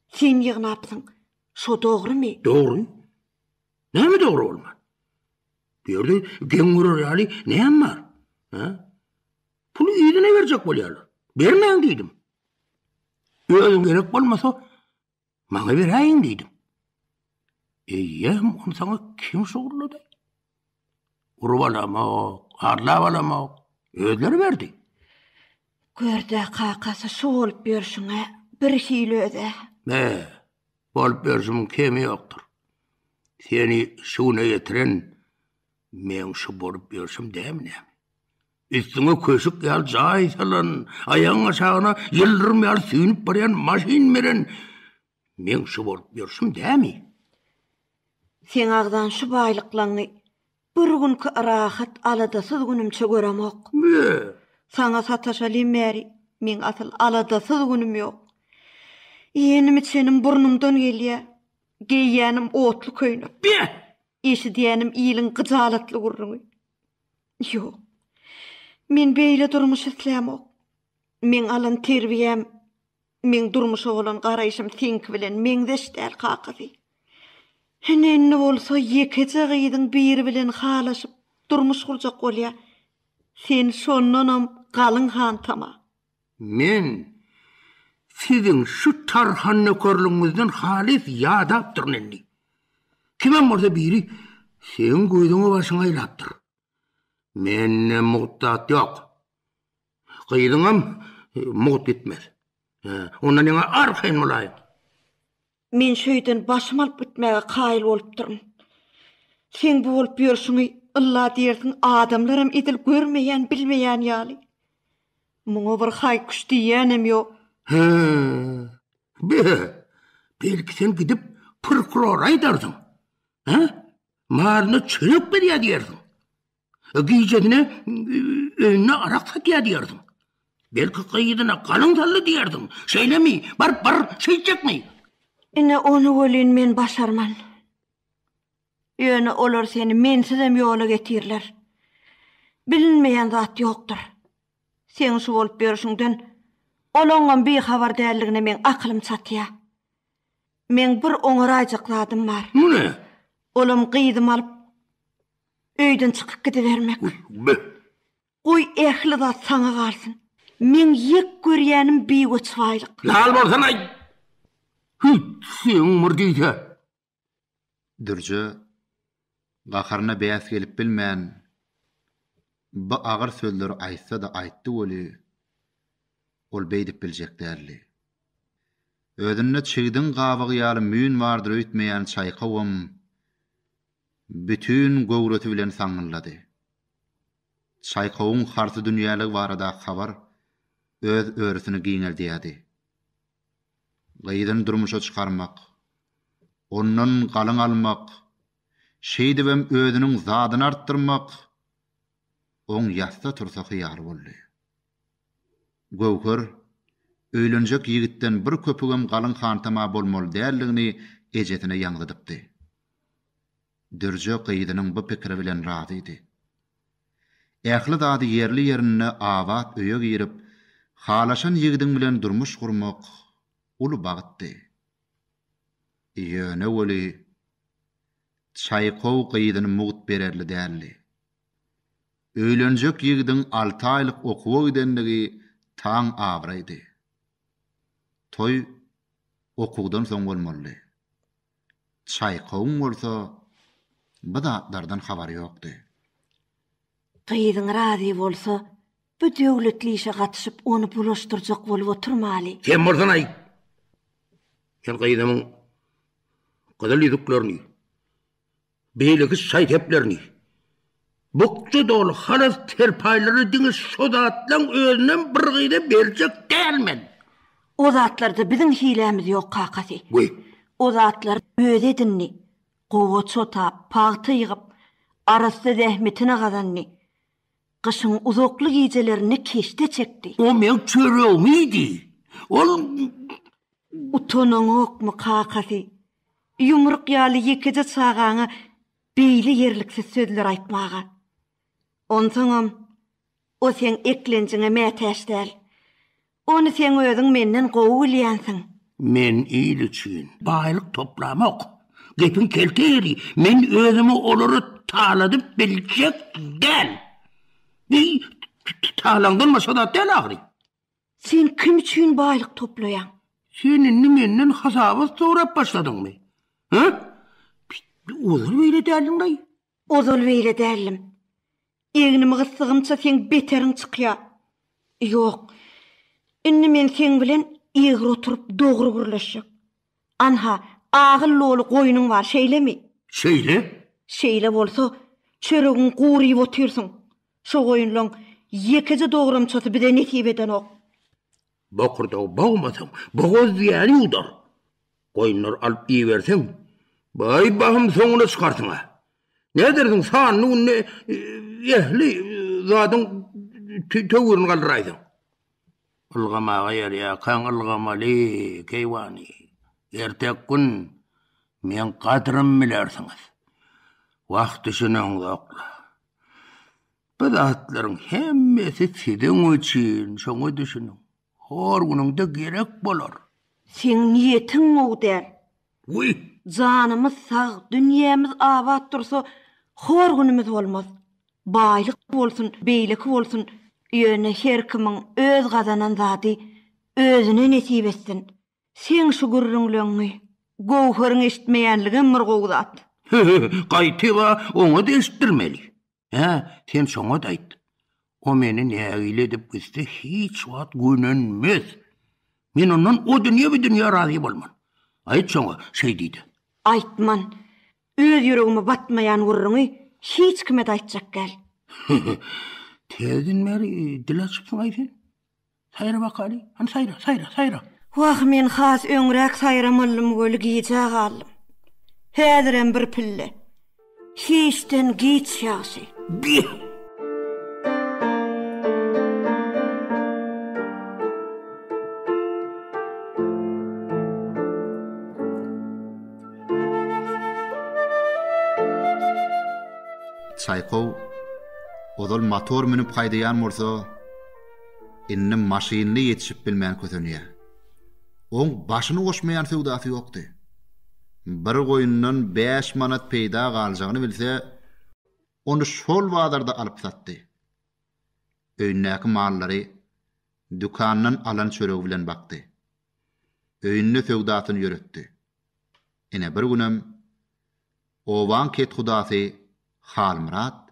sen ýygnapsyň. Şo dogrymy? Dogry. Näme dogry bolman? Bu ýerde geň görer ýaly näme bar? He? Puly iline berjek bolýarlar. Bermäň diýdim. Özüň gerek bolmasa, maňa beräýiň diýdim. Eýýäm ony saňa kim şugurlady? Urup alamok, arlap alamok, özleri berdi. Gör-dä, kakasy, şu bolup ýörşüň-ä birhili öz-ä. Be, bolup ýörşümiň kemi ýokdur. Seni şu güne ýetiren meň şu bolup ýörşüm dämi näme? Üstüňe köşük ýaly jaý salan, aýagyň aşagyna ýyldyrym ýaly süýnüp barýan maşyn menen meň şu bolup ýörşüm dämi? Seň agzan şu baýlyklaňy bir günki rahat, aladasyz günümçe göremok. Bö! Saňa sataşaly bäri meň asyl aladasyz günüm ýok. Iýenim-içenim burnumdan gelýär. Geýýänim otly köýnek. Beh! Eşidýänim iliň gyjalatly gürrüňi. Ýok. Men beýle durmuş islämok. Meň alan terbiýäm, meň durmuşa bolan garaýşym seňki bilen meňzeş däl, kakasy. Ine-indi bolsa ýekeje gyzyň biri bilen halaşyp, durmuş gurjak bolýa. Sen şondanam galyň hantama. Men siziň şu tarhannökerligiňizden halys ýadapdyryn indi. Kimem bolsa biri seň gözüňi başyňy aýlapdyr. Mende mugt-dat ýok. Gyzyňam mugt gitmez. Onda neňe arkaýyn bolaýyň? Men şu öýden başym alyp gitmäge kaýyl bolupdyryn. Seň bu bolup ýörşüňi ylla diýersiň adamlaram edil görmeýän, bilmeýän ýaly. Muňa bir haý-küş diýýänem ýok. Hä. Be-e. Belki sen gidip prokurora aýdarsyň. Hä? Maryna çörek berýär diýersiň. Gijesine öýünde arak satýar diýerdiň. Belki gyzyna galyň saldy diýerdiň. Şeýlemi? Baryp bir şeýtjekmi? Ine ony welin men başarman. Ýöne olar seni mensizem ýola getirirler. Bilinmeýän zat ýokdur. Seň şu bolup ýörşüňden olaňam bihabar däldigine meň akylym çatýa. Meň bir oňaraýjak zadym bar. Bu ne? Olam gyzymy alyp Öýden çykyp gidibermek. Gitme. Goý, ähli zat saňa galsyn. Meň ýek görýänim biweç baýlyk. Lal bolsana-aý! Hüýt, seň bir diýse! Dürje gaharyna bäs gelip bilmän, bu agyr sözleri aýtsa-da aýtdy weli, ol beýdip biljek däldi. Özünde çigdiň gabygy ýaly müýn bardyr öýtmeýän çaýkawam Bütin göwresi bilen saňňyllady. Çaýkowyň harsy dünýäligi baradaky habar öz örüsini giňeldýärdi. Gyzyny durmuşa çykarmak, ondan galyň almak, şeýdibem özüniň zadyny artdyrmak oň ýatsa-tursa hyýaly boldy. Göwher, öýlenjek ýigitden bir köpügem galyň hantama bolmaly däldigini ejesine ýaňzydypdy. Dürje gyzynyň bu pikiri bilen razydy. Ähli zady ýerli-ýerinde abat öýe girip, halaşan ýigidiň bilen durmuş gurmak uly bagtdy. Ýöne weli, Çaýkow gyzyny mugt bererli däldi. Öýlenjek ýigidiň alty aýlyk okuwa gidenligi taň abraýdy. Toý okuwdan soň bolmalydy. Çaýkowyň bolsa bu zatlardan habary ýokdy. Gyzyň razy bolsa, bu döwletli işe gatyşyp, ony bulaşdyrjak bolup oturmaly. Sen bolsan-aý, sen gyzymyň gyzyl ýüzüklerini Beýleki şaý-seplerini, bukja doly halas serpaýlary diňe şo zatlaň özünem bir gyza berjek däl men. O zatlarda biziň hilämiz ýok, kakasy. Goý. O zatlary özi edindi. Gowaça otap, pagta ýygyp, arassa zähmetine gazandy. Gyşyň uzakly gijelerinde keşde çekdi. O meň çöregimi iýdi. Ol. Utanaňokmy, kakasy? Ýumruk ýaly ýekeje çagaňa beýle ýerliksiz sözler aýtmaga. Onsoňam, o seň eklenjiňe mätäç däl. Ony seň özüň menden gowy bilýänsiň. Men il üçin baýlyk toplamok. Gepiň kelte ýeri, men özümi olara taladyp biljek däl. Bi, talaňdan başga zat däl ahyry. Sen kim üçin baýlyk toplaýaň? Sen indi menden hasabat sorap başladyňmy? Hä? Ozal beýle däldiň-laý. Ozal beýle däldim. Egnimi gyssygymça seň beteriň çykýa. Ýok, indi men seň bilen egri oturyp dogry gürleşjek. Anha, agyl doly goýnuň bar, şeýlemi? Şeýle. Şeýle bolsa, çöregiňi gury iýip otyrsyň. Şo goýunlaň ýekeje dogramçasy bize nesip edenok. Bokurdagy bogmasaň, bogaz diýýäni ýuwdar. Goýunlary alyp iýiberseň, baý bahym soňuna çykarsyň-a. Nädersiň, sanly günde ähli zadyň töwürini galdyraýsaň? Ylgamaga ýarýarkaň ylgamaly, keýwany. Ertek gün meň gadrym bilersiňiz. Wah düşüneňzok-la. Bu zatlaryň hemmesi siziň üçin, şoňa düşüniň. Hor günüňde gerek bolar. Seň niýetiň gowy däl. Wuý! Janymyz sag, dünýämiz abat dursa, hor günümiz bolmaz. Baýlyk bolsun, beýleki bolsun, ýöne her kimiň öz gazanan zady özüne nesip etsin. Seň şu gürrüňleňňi Göwheriň eşitmeýänligem bir gowy zat. Hü-hü, gaýtyp-a oňa-da eşitdirmeli. Hä, sen şoňat aýt. O meni nägile edip gitse hiç wagt gönenmez. Men ondan o dünýe bu dünýe razy bolman. Aýt şoňa, şeý diýdi. Aýtman. Öz ýüregime batmaýan gürrüňi hiç kime-de aýtjak däl. Täzeden bäri dil açypsyň-aý sen? Saýra bakaly, hany saýra, saýra, saýra! Wah, men has öňräk saýramalydym weli gijä galdym. Häzirem bir pille. Hiçden giç ýagşy. Bih! Çaýkow ozal motor münüp haýdaýan bolsa, Indi maşynly ýetişip bilmän kösenýär. Oň başyny goşmaýan söwdasy ýokdy. Bir goýundan bäş manat peýda galjagyny bilse, ony şol bazarda alyp satdy. Öýündäki mallary dükandan alan çöregi bilen bakdy. Öýünde söwdasyny ýöretdi. Ine bir günem obaň kethudasy Halmyrat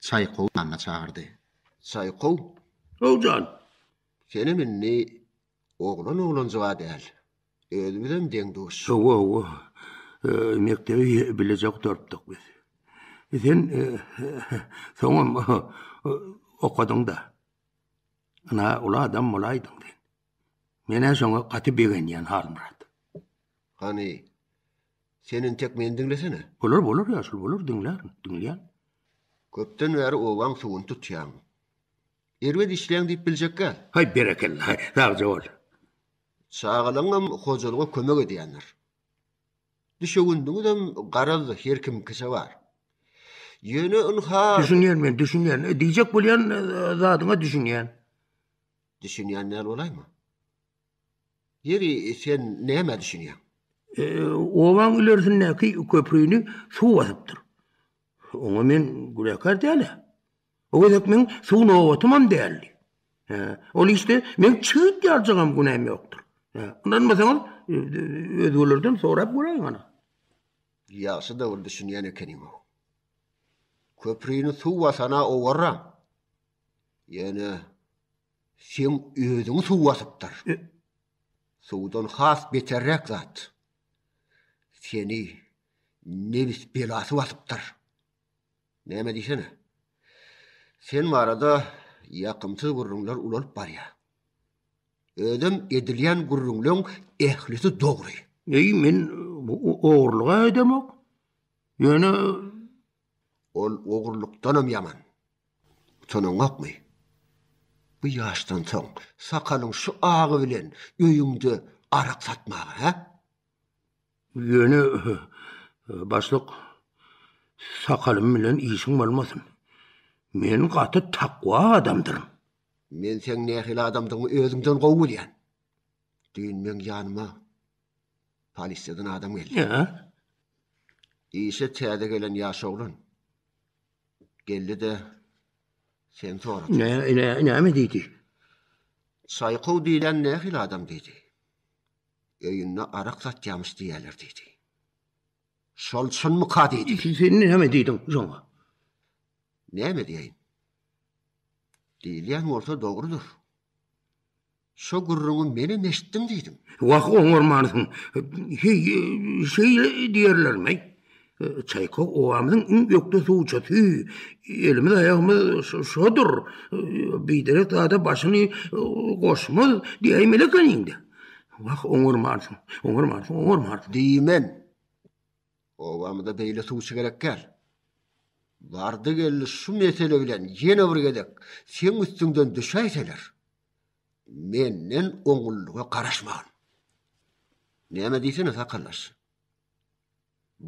Çaýkowy ýanyna çagyrdy. Çaýkow. How jan! Senem indi oglan oglanjyga däl. Özümizem deň-duş. Hawa, hawa. Mekdebi bileje gutardyk biz. Sen soňam okadyň-da. Ynha, uly adam bolaýdyň sen. Menä şoňa gaty begenýän Halmyrat. Hany, sen entek meni diňlesene. Bolar, bolar ýaşuly, bolar, diňlärin, diňleýän. Köpden bäri obaň suwuny tutýaň. Erbet işleýäň diýip biljekgäl. Haý, berekella, haý, sagja bol. Çagalaňam hojalyga kömek edýändir. Düşewündiňizem garaz her kimikiçe bar. Ýöne ynha. Düşünýän men, düşünýän. Diýjek bolýan zadyňa düşünýän. Düşünýän däl bolaýma. Ýeri sen näme düşünýäň? E, obaň ilerisindäki köprüni suw basypdyr. Oňa men günäkär däl-ä. O gezek men suw nobatymam däldi. He, ol işde men çyt ýaljagam günäm ýokdur. He, ynanmasaňyz, e, özgelerden sorap göräýiň ana. Ýagşy da bir düşünýän ekeniň-ow. Köprüni suw basana owarra. Ýöne seň özüňi suw basypdyr. Suwdan has beterräk zat. Seni nebis belasy basypdyr. Näme diýsene? Sen barada ýakymsyz gürrüňler ulalyp barýar. Özem edilýän gürrüňleň ählisi dogry. Eý, men ogurlyk-a edemok. Ýöne Ol ogrulykdanam ýaman. Utanaňokmy? Bu ýaşdan soň sakalyň şu agy bilen öýüňde arak satmaga, hä? Ýöne, başlyk, sakalym bilen işiň bolmasyn. Men gaty takwa adamdyryn. Men seň nähili adamdygyňy özümden gowy bilýän. Düýn meň ýanyma polisiýadan adam geldi. Ýa. Işe täze gelen ýaş oglan. Geldi-de sen sorady. Ne, ne, näme diýdi? Çaýkow diýlen nähili adam diýdi. Öýünde arak satýamyş diýýärler diýdi. Şol çynmyka diýdi. Sen näme diýdiň şoňa? Näme diýeýin? Diýilýän bolsa dogrudyr. Şo gürrüňi menem eşitdim diýdim. Wah, oňarmarsyň. Heý, şeýle diýerlermi? Çaýka obamyzyň iň ökde suwçusy. Elimiz-aýagymyz şodur. Biderek zada başyny goşmaz diýäýmeli ekeniň-dä. Wah, oňarmarsyň, oňarmarsyň, oňarmarsyň. Diýmen. Obamyza beýle suwçy gerek däl. Bardy-geldi şu mesele bilen ýene bir gezek seň üstüňden düşäýseler. Menden oňullyga garaşmagyn. Näme diýsene sakaldaş.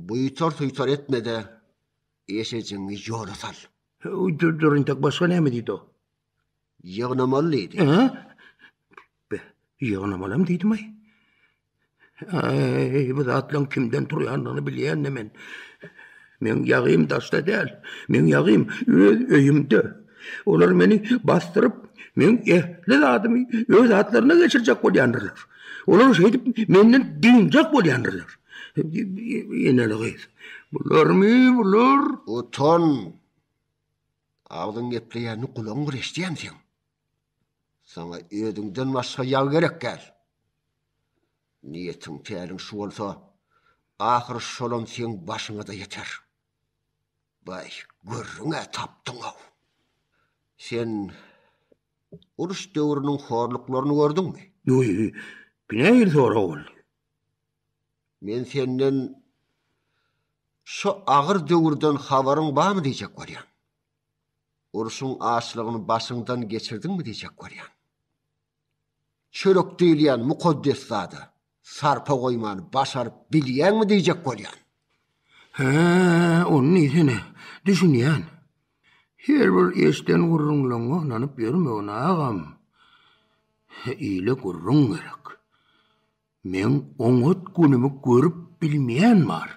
Buýtar-suýtar etme-de, eşejiňi ýola sal. Dur-dur intek başga näme diýdi-o? Ýygnamaly diýdi. Ýygnamalam diýdim-aý. Äý, bu zatlaryň kimden turýandygyny bilýän-de men. Meň ýagym daşda däl. Meň ýagym öz öýümde. Olar meni basdyryp, meň ähli zadymy öz atlaryna geçirjek bolýandyrlar. Olar şeýdip menden dynjak bolýandyrlar. Eneli gyz. Bularmy bular? Utan! Agzyň gepleýänini gulagyň bir eşidýämi seň? Saňa özüňden başga ýag gerek däl. Niýetiň, täliň şu bolsa, ahyry şolam seň başyňa-da ýeter. Baý, gürrüň-ä tapdyň-ow! Sen uruş döwrüniň horluklaryny gördüňmi? Ýu-ýu, bu nähili sorag boldy? Men senden şo agyr döwürden habaryň barmy diýjek bolýan. Urşuň açlygyny başyňdan geçirdiňmi diýjek bolýan. Çörek diýilýän mukaddes zada sarpa goýmany başaryp bilýäňmi diýjek bolýan. Hä, ony diýsene, düşünýän. Her bir eşden gürrüňleňňe ynanyp ýörmegin, agam. Ile gürrüň gerek. Meň oňat günümi görüp bilmeýän bar.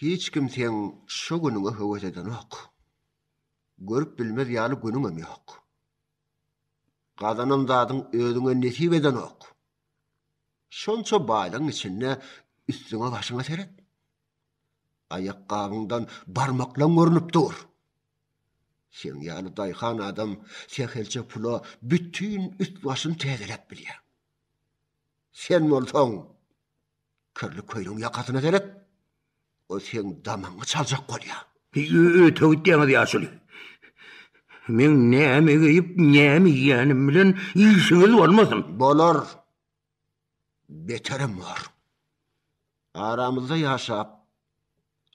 Hiç kim seň şo günüňe höwes edenok. Görüp bilmez ýaly günüňem ýok. Gazanan zadyň özüňe nesip edenok. Şonça baýlygyň içinde üstüňe-başyňa seret. Aýakgabyňdan barmaklaň görnüp dur. Seň ýaly daýhan adam sähelçe pula bütin üst-başyny täzeläp bilýär. Sen bolsaň. Kirli köýnegiň ýakasyna seret. Ol seň damagyňy çaljak bolýa. Öte gitýäňiz ýaşuly. Meň näme geýip, näme iýýänim bilen işiňiz bolmasyn. Bolar. Beterem bor. Aramyzda ýaşap,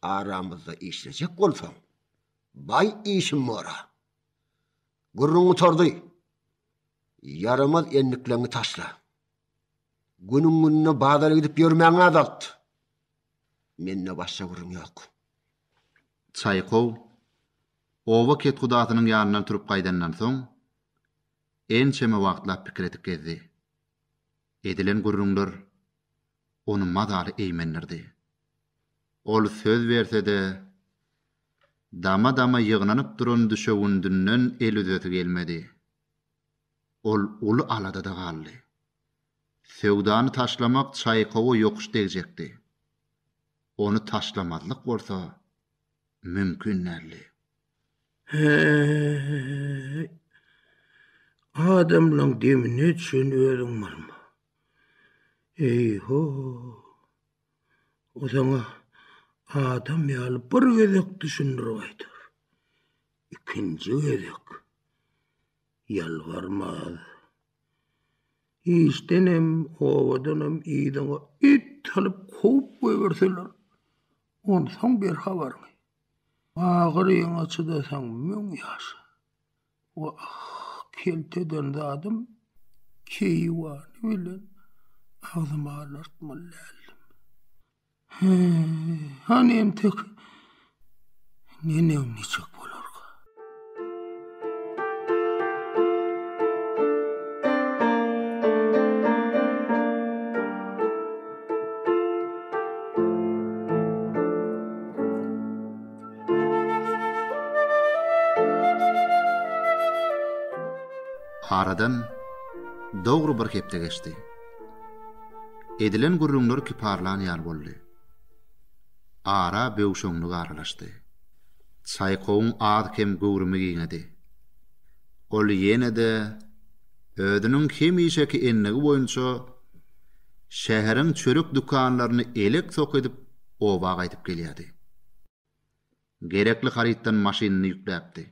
aramyzda işlejek bolsaň, baý işim bor-a. Gürrüň gutardy. Ýaramaz endikleňi taşla. Günüň-gününe bazara gidip ýörmäňi azalt. Mende başga gürrüň ýok. Çaýkow oba kethudasynyň ýanyndan turup gaýdandan soň, ençeme wagtlap pikir edip gezdi. Edilen gürrüňler ony mazaly eýmendirdi. Ol söz berse-de, dama-dama ýygnanyp duran düşewündinden el üzesi gelmedi. Ol uly aladada galdy. Söwdany taşlamak Çaýkowa ýokuş degjekdi. Ony taşlamazlyk bolsa mümkin däldi. Häý! Adamlaň demine çen özüň malma. Eý-ho! O saňa adam ýaly bir gezek düşündirip aýdar. Ikinji gezek ýalbarmaz. Işdenem, obadanam yzyňa it salyp kowup goýberseler, onsoň ber habaryňy. Agyryňa çydasaň müň ýaşa. Wah, kelt eden zadym, keýwany bilen agzymy alartmaly däldim. He, hany entek neneň niçik bolarka? Aradan dogry bir hepde geçdi. Edilen gürrüňler kiparlan ýaly boldy. Ara böwşeňlik aralaşdy. Çaýkowyň az-kem göwrümi giňedi. Ol ýene-de özüniň hemişeki endigi boýunça şäheriň çörek dükanlaryny elek-sok edip oba gaýdyp gelýärdi. Gerekli harytdan maşynyny ýükläpdi.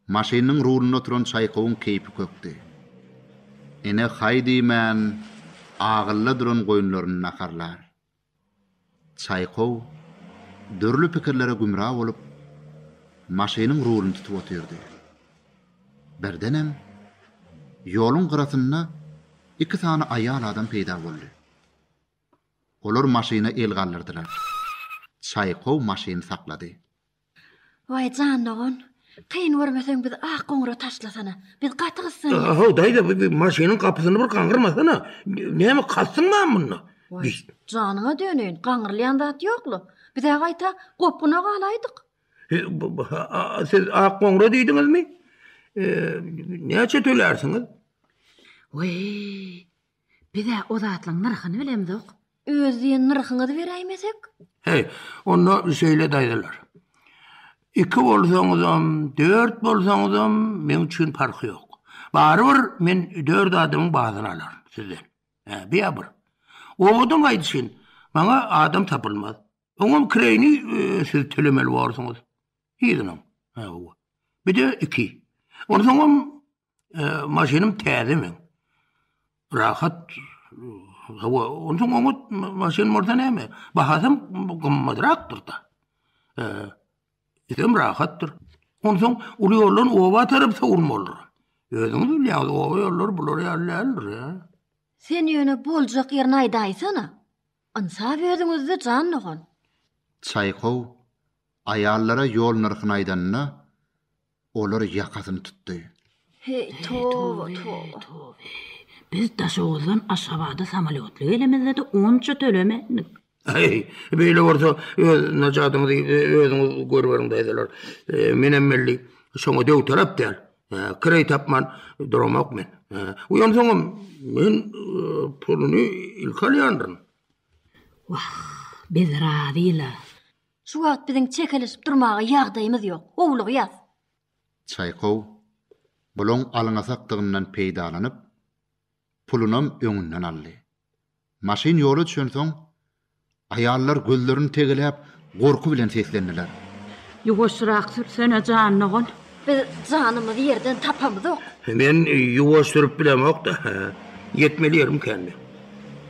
Maşynynyň rulynda oturan Çaýkowyň keýpi kökdi. Ene haý diýmän, agylla duran goýunlaryny naharlar. Çaýkow dürli pikirlere gümra bolup, maşynyň rulyny tutup otyrdy. Birdenem, ýoluň gyrasynda iki sany aýal adam peýda boldy. Olar maşyna el galdyrdylar. Çaýkow maşyny saklady. Waý, jan dogan, kyn görmeseň bizi ak goňura taşlasana. Biz gaty gyssandyk. Ahaw, daýza, bu maşynyň gapysyny bir gaňyrmasana. Näme, kalsyň bamy munda? Waý, janyňa döneýin, gaňyrylýan zat ýok-la. Biz-ä gaýta gopguna galaýdyk. Siz ak goňura diýdiňizmi? Näçe tölärsiňiz? Waý, Biz-ä o zatlaň nyrhyny bilemzok. Öz diýen nyrhyňyzy beräýmesek? Heý, onda şeýle daýzalar. Iki bolsaňyzam, dört bolsaňyzam meň üçin parhy ýok. Barybir men dört adamyň badyny alaryn sizden. Hä, bi-ä bir. Owadan gaýdyşyn, maňa adam tapylmaz. Oňam kireýini siz tölemeli borsuňyz. Yzynyň. Hawa. Bir-de iki. Onsoňam Maşynym täze men. Rahat hawa, ondan oňat maşyn bolsa näme? Bahasam gymmatrakdyr da. Eee, rahatdyr. Ondan uly ýoldan oba tarap sowul bolar. Özüňiz bilýäňiz, oba ýollary bular ýaly däldir ýa. Sen ýöne boljak ýerini aýdaýsana. Ynsap özüňizde jan dogan. Çaýkow, aýallara ýol nyrhyny aýdanda, Olar ýakasyny tutdy. Heý, toba, toba! Biz Daşoguzdan Aşgabada samolýotly gelemizde-de onça tölemendik. Heý, beýle bolsa, öz najadyňyzy özüňiz görüberiň, daýzalar. Menem weli şoňa döwtalap däl. Kireý tapman duramok men. Uýansoňam, men puluny ilki alýandyryn. Wah, biz razy-la. Şu wagt biziň çekeleşip durmaga ýagdaýymyz ýok. Howlugýas. Çaýkow, bulaň alňasakdygyndan peýdalanyp, pulunam öňünden aldy. Maşyn ýola düşensoň, aýallar gözlerini tegeläp, gorky bilen seslendiler. Ýuwaşrak sürsene jan dogan. Biz janymyzy ýerden tapamyzok. Men ýuwaş sürüp bilemok-da. Ýetmeli ýerim känmi?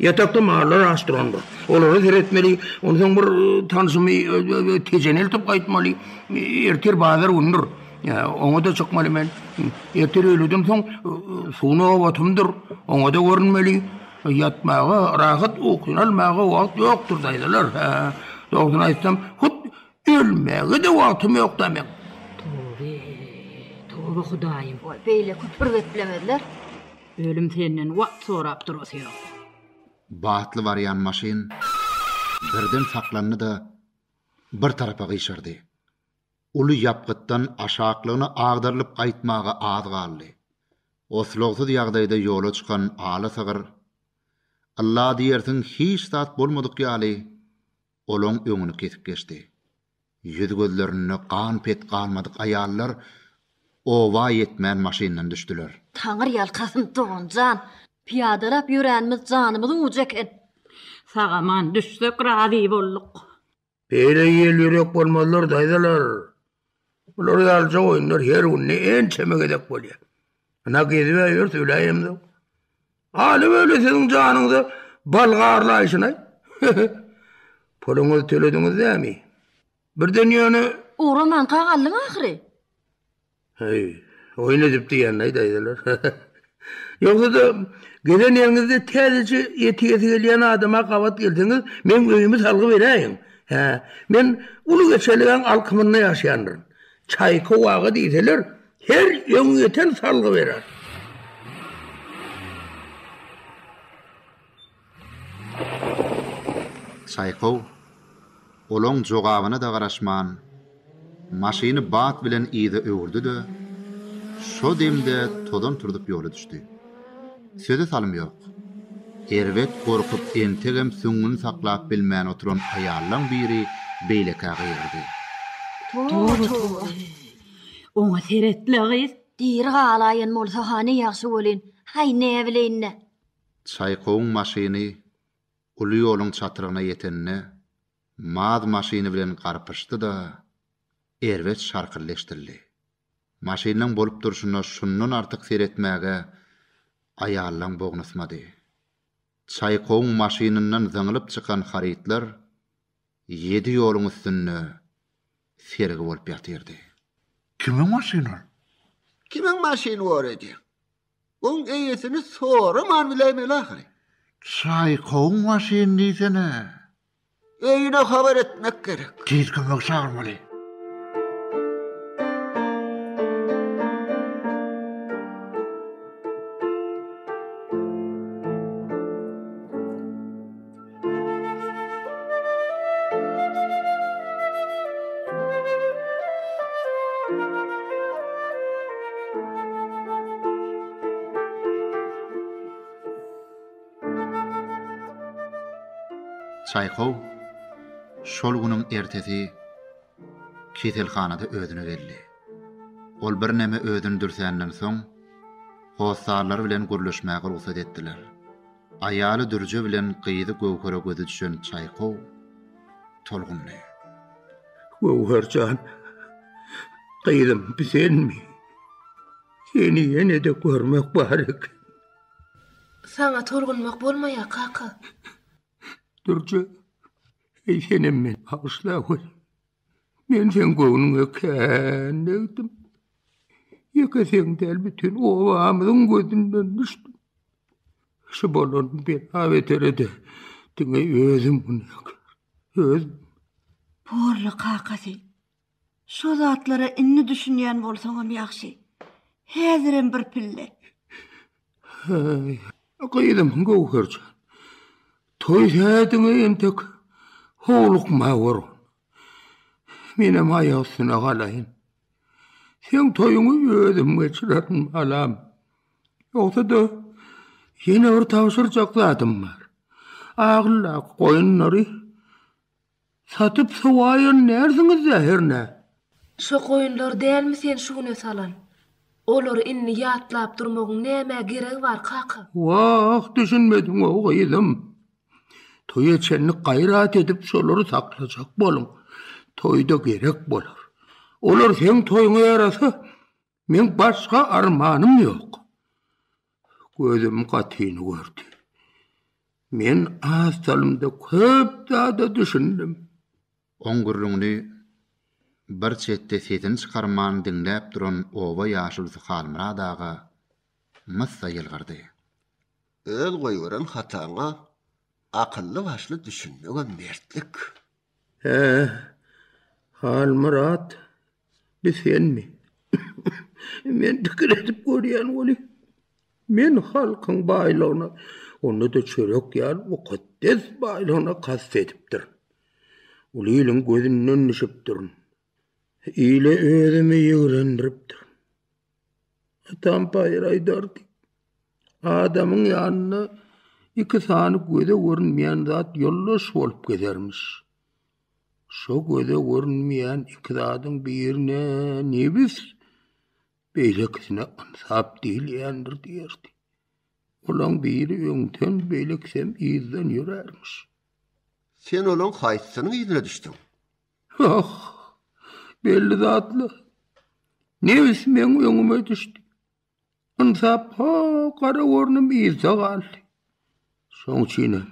Ýatakda mallar aç durandyr. Olara seretmeli, onsoň bir tanşymy tejeni eltip gaýtmaly. Ertir bazar günüdir. Oňa-da çykmaly men. Ertir öýleden soň suw nobatymdyr. Oňa-da görünmeli. Ýatmaga, rahat ukyny almaga wagt ýokdur, daýzalar. Dogrusyny aýtsam, hut Ölmegede wagtym ýokda meň. Toby toba hudaýym. Oý beýle küpür geplemezler. Ölüm senden wagt sorap durasy ýok. Batly barýan maşyn birden saklandy-da bir tarapa gyşardy. Uly ýapgytdan aşaklygyna agdarylyp gaýtmaga az galdy. Oslagsyz ýagdaýda ýola çykan ala sygyr, ylla diýersiň hiç zat bolmadyk ýaly olaň öňüni kesip geçdi. Ýüz-gözlerinde gan-pet galmadyk aýallar oba ýetmän maşyndan düşdüler. Taňry ýalkasyn, doganjan! Pyýadalap ýöränimiz janymyzyň ujy eken. Sag-aman düşsek razy bolduk. Beýle ýel-ýürek bolmazlar, daýzalar. Bular ýalyja oýunlar her günde ençeme gezek bolýar. Ynha, gezip-ä ýörüs, öläýemzok. Aly weli siziň janyňyza balga arlaýşyny. Puluňyzy tölediňiz nämi? Birden ýöne. Ugramanka galdyň ahyry. Heý, oýun edip diýenleý daýzalar. Ýogsa-da, gezen ýeriňizde täzeçe ýetigesi gelýän adama gabat gelseňiz, meň öýümi salgy beräýiň. Hä, men uly geçelgäň alkymynda ýaşaýandyryn. Çaýkow aga diýseler, Her öňýeten salgy berer. Çaýkow olaň jogabyna-da garaşman, maşyny bat bilen yza öwürdi-de, şo demde tozan turzup ýola düşdi. Söze salym ýok. Erbet gorkup entegem süňňüni saklap bilmän oturan aýallaň biri beýlekä gygyrdy. Toba-toba! Oňa seret-le, gyz! Diri galaýan bolsa-ha ne ýagşy welin, häý, näbileýin-dä! Çaýkowyň maşyny uly ýoluň çatrygyna ýetende, Maz maşyny bilen garpyşdy-da, erbet şarkyldeşdirdi. Maşynyň bolup durşuna şundan artyk seretmäge aýallaň bognusmady. Çaýkowyň maşynyndan zyňylyp çykan harytlar ýedi ýoluň üstünde sergi bolup ýatyrdy. Kimiň maşyny ol? Kimiň maşyny bolady? Oň eýesini soraman biläýmeli ahyry. Çaýkowyň maşyny diýsene. Öýüne habar etmek gerek. Tiz kömek çagyrmaly. Çaýkow şol günüň ertesi keselhanada özüne geldi. Ol birneme özüni dürsänden soň, hossarlary bilen gürleşmäge rugsat etdiler. Aýaly Dürje bilen gyzy Göwhere gözi düşen Çaýkow tolgundy. Göwher jan, gyzym, bi senmi? Seni ýene-de görmek bar eken. Saňa tolgunmak bolmaýar, kaka. Dürje, heý senem meni bagyşla, gözi. Men sen göwnüňe kän degdim. Ýeke sen däl, bütin obamyzyň gözünden düşdüm. Şu bolan bela beterede diňe özüm günäkär. Öz. Porly kakasy. Şo zatlara indi düşünýän bolsaňam ýagşy. Häzirem bir pille. Heý, gyzym Göwher jan, toý sähediňe entek howlukma gör. Menem aýak üstüne galaýyn. Seň toýuňy özüm geçirerin, balam. Ýogsa-da, ýene bir tabşyrjak zadym bar. Agyldaky goýunlary Satyp sowaýan närsiňiz-dä hernä? Şo goýunlary dälmi sen şu güne salan? Olary indi ýatlap durmagyň nämä geregi bar, kaka? Wah, düşünmediň-ow, gyzym. Toýa çenli gaýrat edip şolary saklajak boluň. Toýda gerek bolar. Olar seň toýuňa ýarasa, Men başga armanym ýok. Gözüm gatyny gördi. Men az salymda köp zada düşündim. Oň gürrüňini bir çetde sesini çykarman diňläp duran oba ýaşulusy Halmyrat aga myssa ýylgyrdy. Öz goýberen hataňa akylly-başly düşünmegem mertlik. Hä, Halmyrat, bi senmi? Men pikir edip görýän weli, men halkyň baýlygyna, onda-da çörek ýaly mukaddes baýlygyna kast edipdirin. Uly iliň gözünden düşüpdirin. Ile özümi ýigrendiripdirin. Tutan paýyr aýdardy. Adamyň ýanynda iki sany göze görünmeýän zat ýoldaş bolup gezermiş. Şo göze görünmeýän iki zadyň birine nebis, beýlekisine ynsap diýilýändir diýerdi. Olaň biri öňden, beýlekisem yzdan ýörärmiş. Sen olaň haýsysynyň yzyna düşdüň? Ýoh, belli zatlar. Nebis meň öňüme düşdi. Ynsap, ha, gara gornym yzda galdy. Şoň üçinem.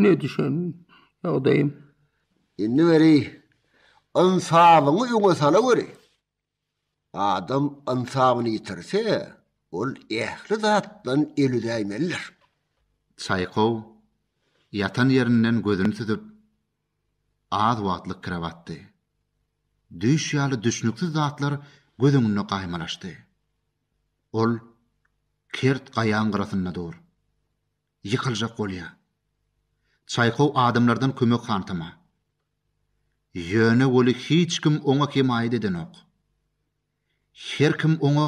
Ne düşen ýagdaýym. Indi weri, ynsabyňy öňe sala weri. Adam ynsabyny ýitirse, ol ähli zatdan el üzäýmelidir. Çaýkow ýatan ýerinden gözüni süzüp, az wagtlyk kire batdy. Düýş ýaly düşnüksiz zatlar göz öňünde gaýmalaşdy. Ol kert gaýaň gyrasynda dur. Ýykyljak bolýar. Çaýkow adamlardan kömek hantama. Ýöne weli hiç kim oňa hemaýat edenok. Her kim oňa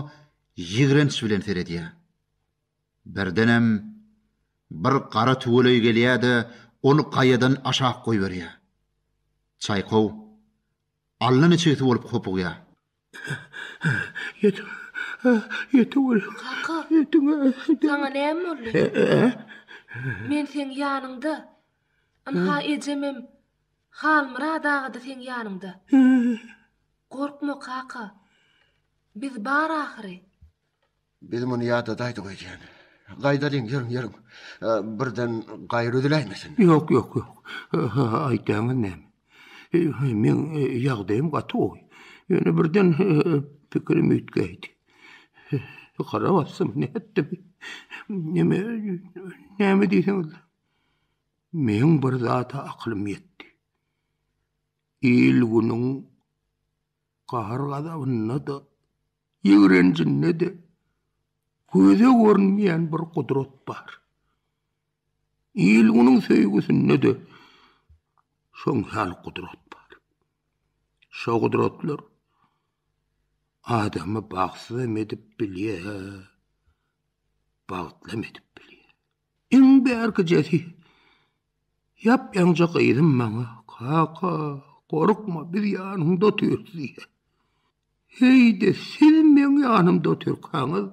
ýigrenç bilen seredýär. Birdenem bir gara tüweleý gelýär-de, ony gaýadan aşak goýberýär. Çaýkow allaniçigsi bolup hopugýar. Kaka, saňa näme boldy? Men seň ýanyňda. Ynha, ejemem, Halmyrat aga-da seň ýanyňda. Gorkma, kaka. Biz bar ahyry. Biz muny ýadadaýdyk öýdýän. Gaýdalyň, ýörüň, ýörüň. Birden gaýry üzüläýmesin. Ýok, ýok, ýok. Aýtýaňyz näme? Meň ýagdaýym gaty gowy. Ýöne birden pikirim üýtgäýdi. Hara bassam, nätdim? Neme, näme diýseňiz? Meň bir zada akylym ýetdi. Il-günüň gahar-gazabynda-da Ýigrenjinde-de göze görünmeýän bir gudrat bar. Il-günüň söýgüsinde-de şoň ýaly gudrat bar. Şo gudratlar adamy bagtsyzam edip bilýär, bagtlam edip bilýär. Iň bärkijesi, ýap-ýaňja gyzym maňa, Kaka, gorkma, biz ýanyňda otyrys diýýär. Heý-de, siz meň ýanymda otyrkaňyz,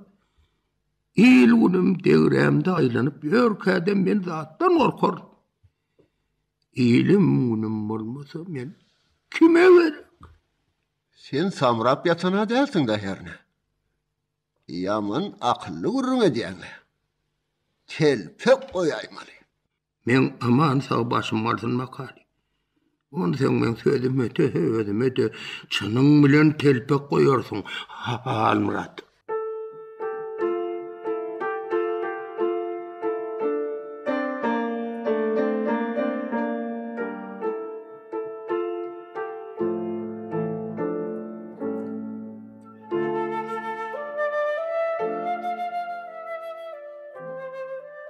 il-günüm degrämde aýlanyp ýörkä-de men zatdan gorkaryn. Ilim-günüm bolmasa, men kime gerek? Sen samrap ýatan-a dälsiň-dä hernä? Ýaman akylly gürrüň edýäň. Telpek goýaýmaly. Meň aman sag başym galsyn Makali. Onsoň meň sözüme dese özüme de çynyň bilen telpek goýarsyň Halmyrat.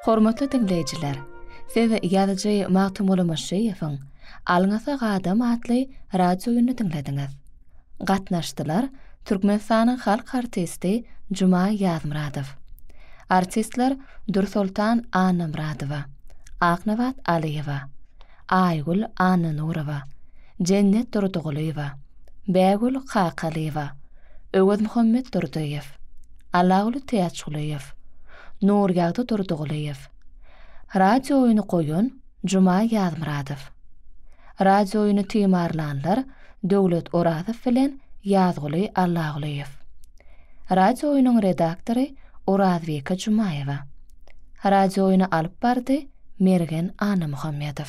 Hormatly diňleýjiler, siz ýazyjy Magtymguly Myşşyýewiň Alňasa gadam atly radio oýnuny diňlediňiz. Gatnaşdylar Türkmenistanyň halk artisti Juma Ýazmyradow, artistler Dürsoltan Annamyradowa, Aknabat Alyýewa, Aýgül Annanurowa, Jennet Durdygulyýewa, Bägül Kakalyýewa, Öwezmuhammet Durdyýew, Allaguly Täçgulyýew, Nurýagdy Durdygulyýew, Radiooýny goýan Juma Ýazmyradow, Radiooýny timarlanlar Döwlet Orazow bilen Ýazguly Allagulyýew, Radiooýnyň redaktory Orazbike Jumaýewa, Radiooýny alyp bardy Mergen Annamuhammedow.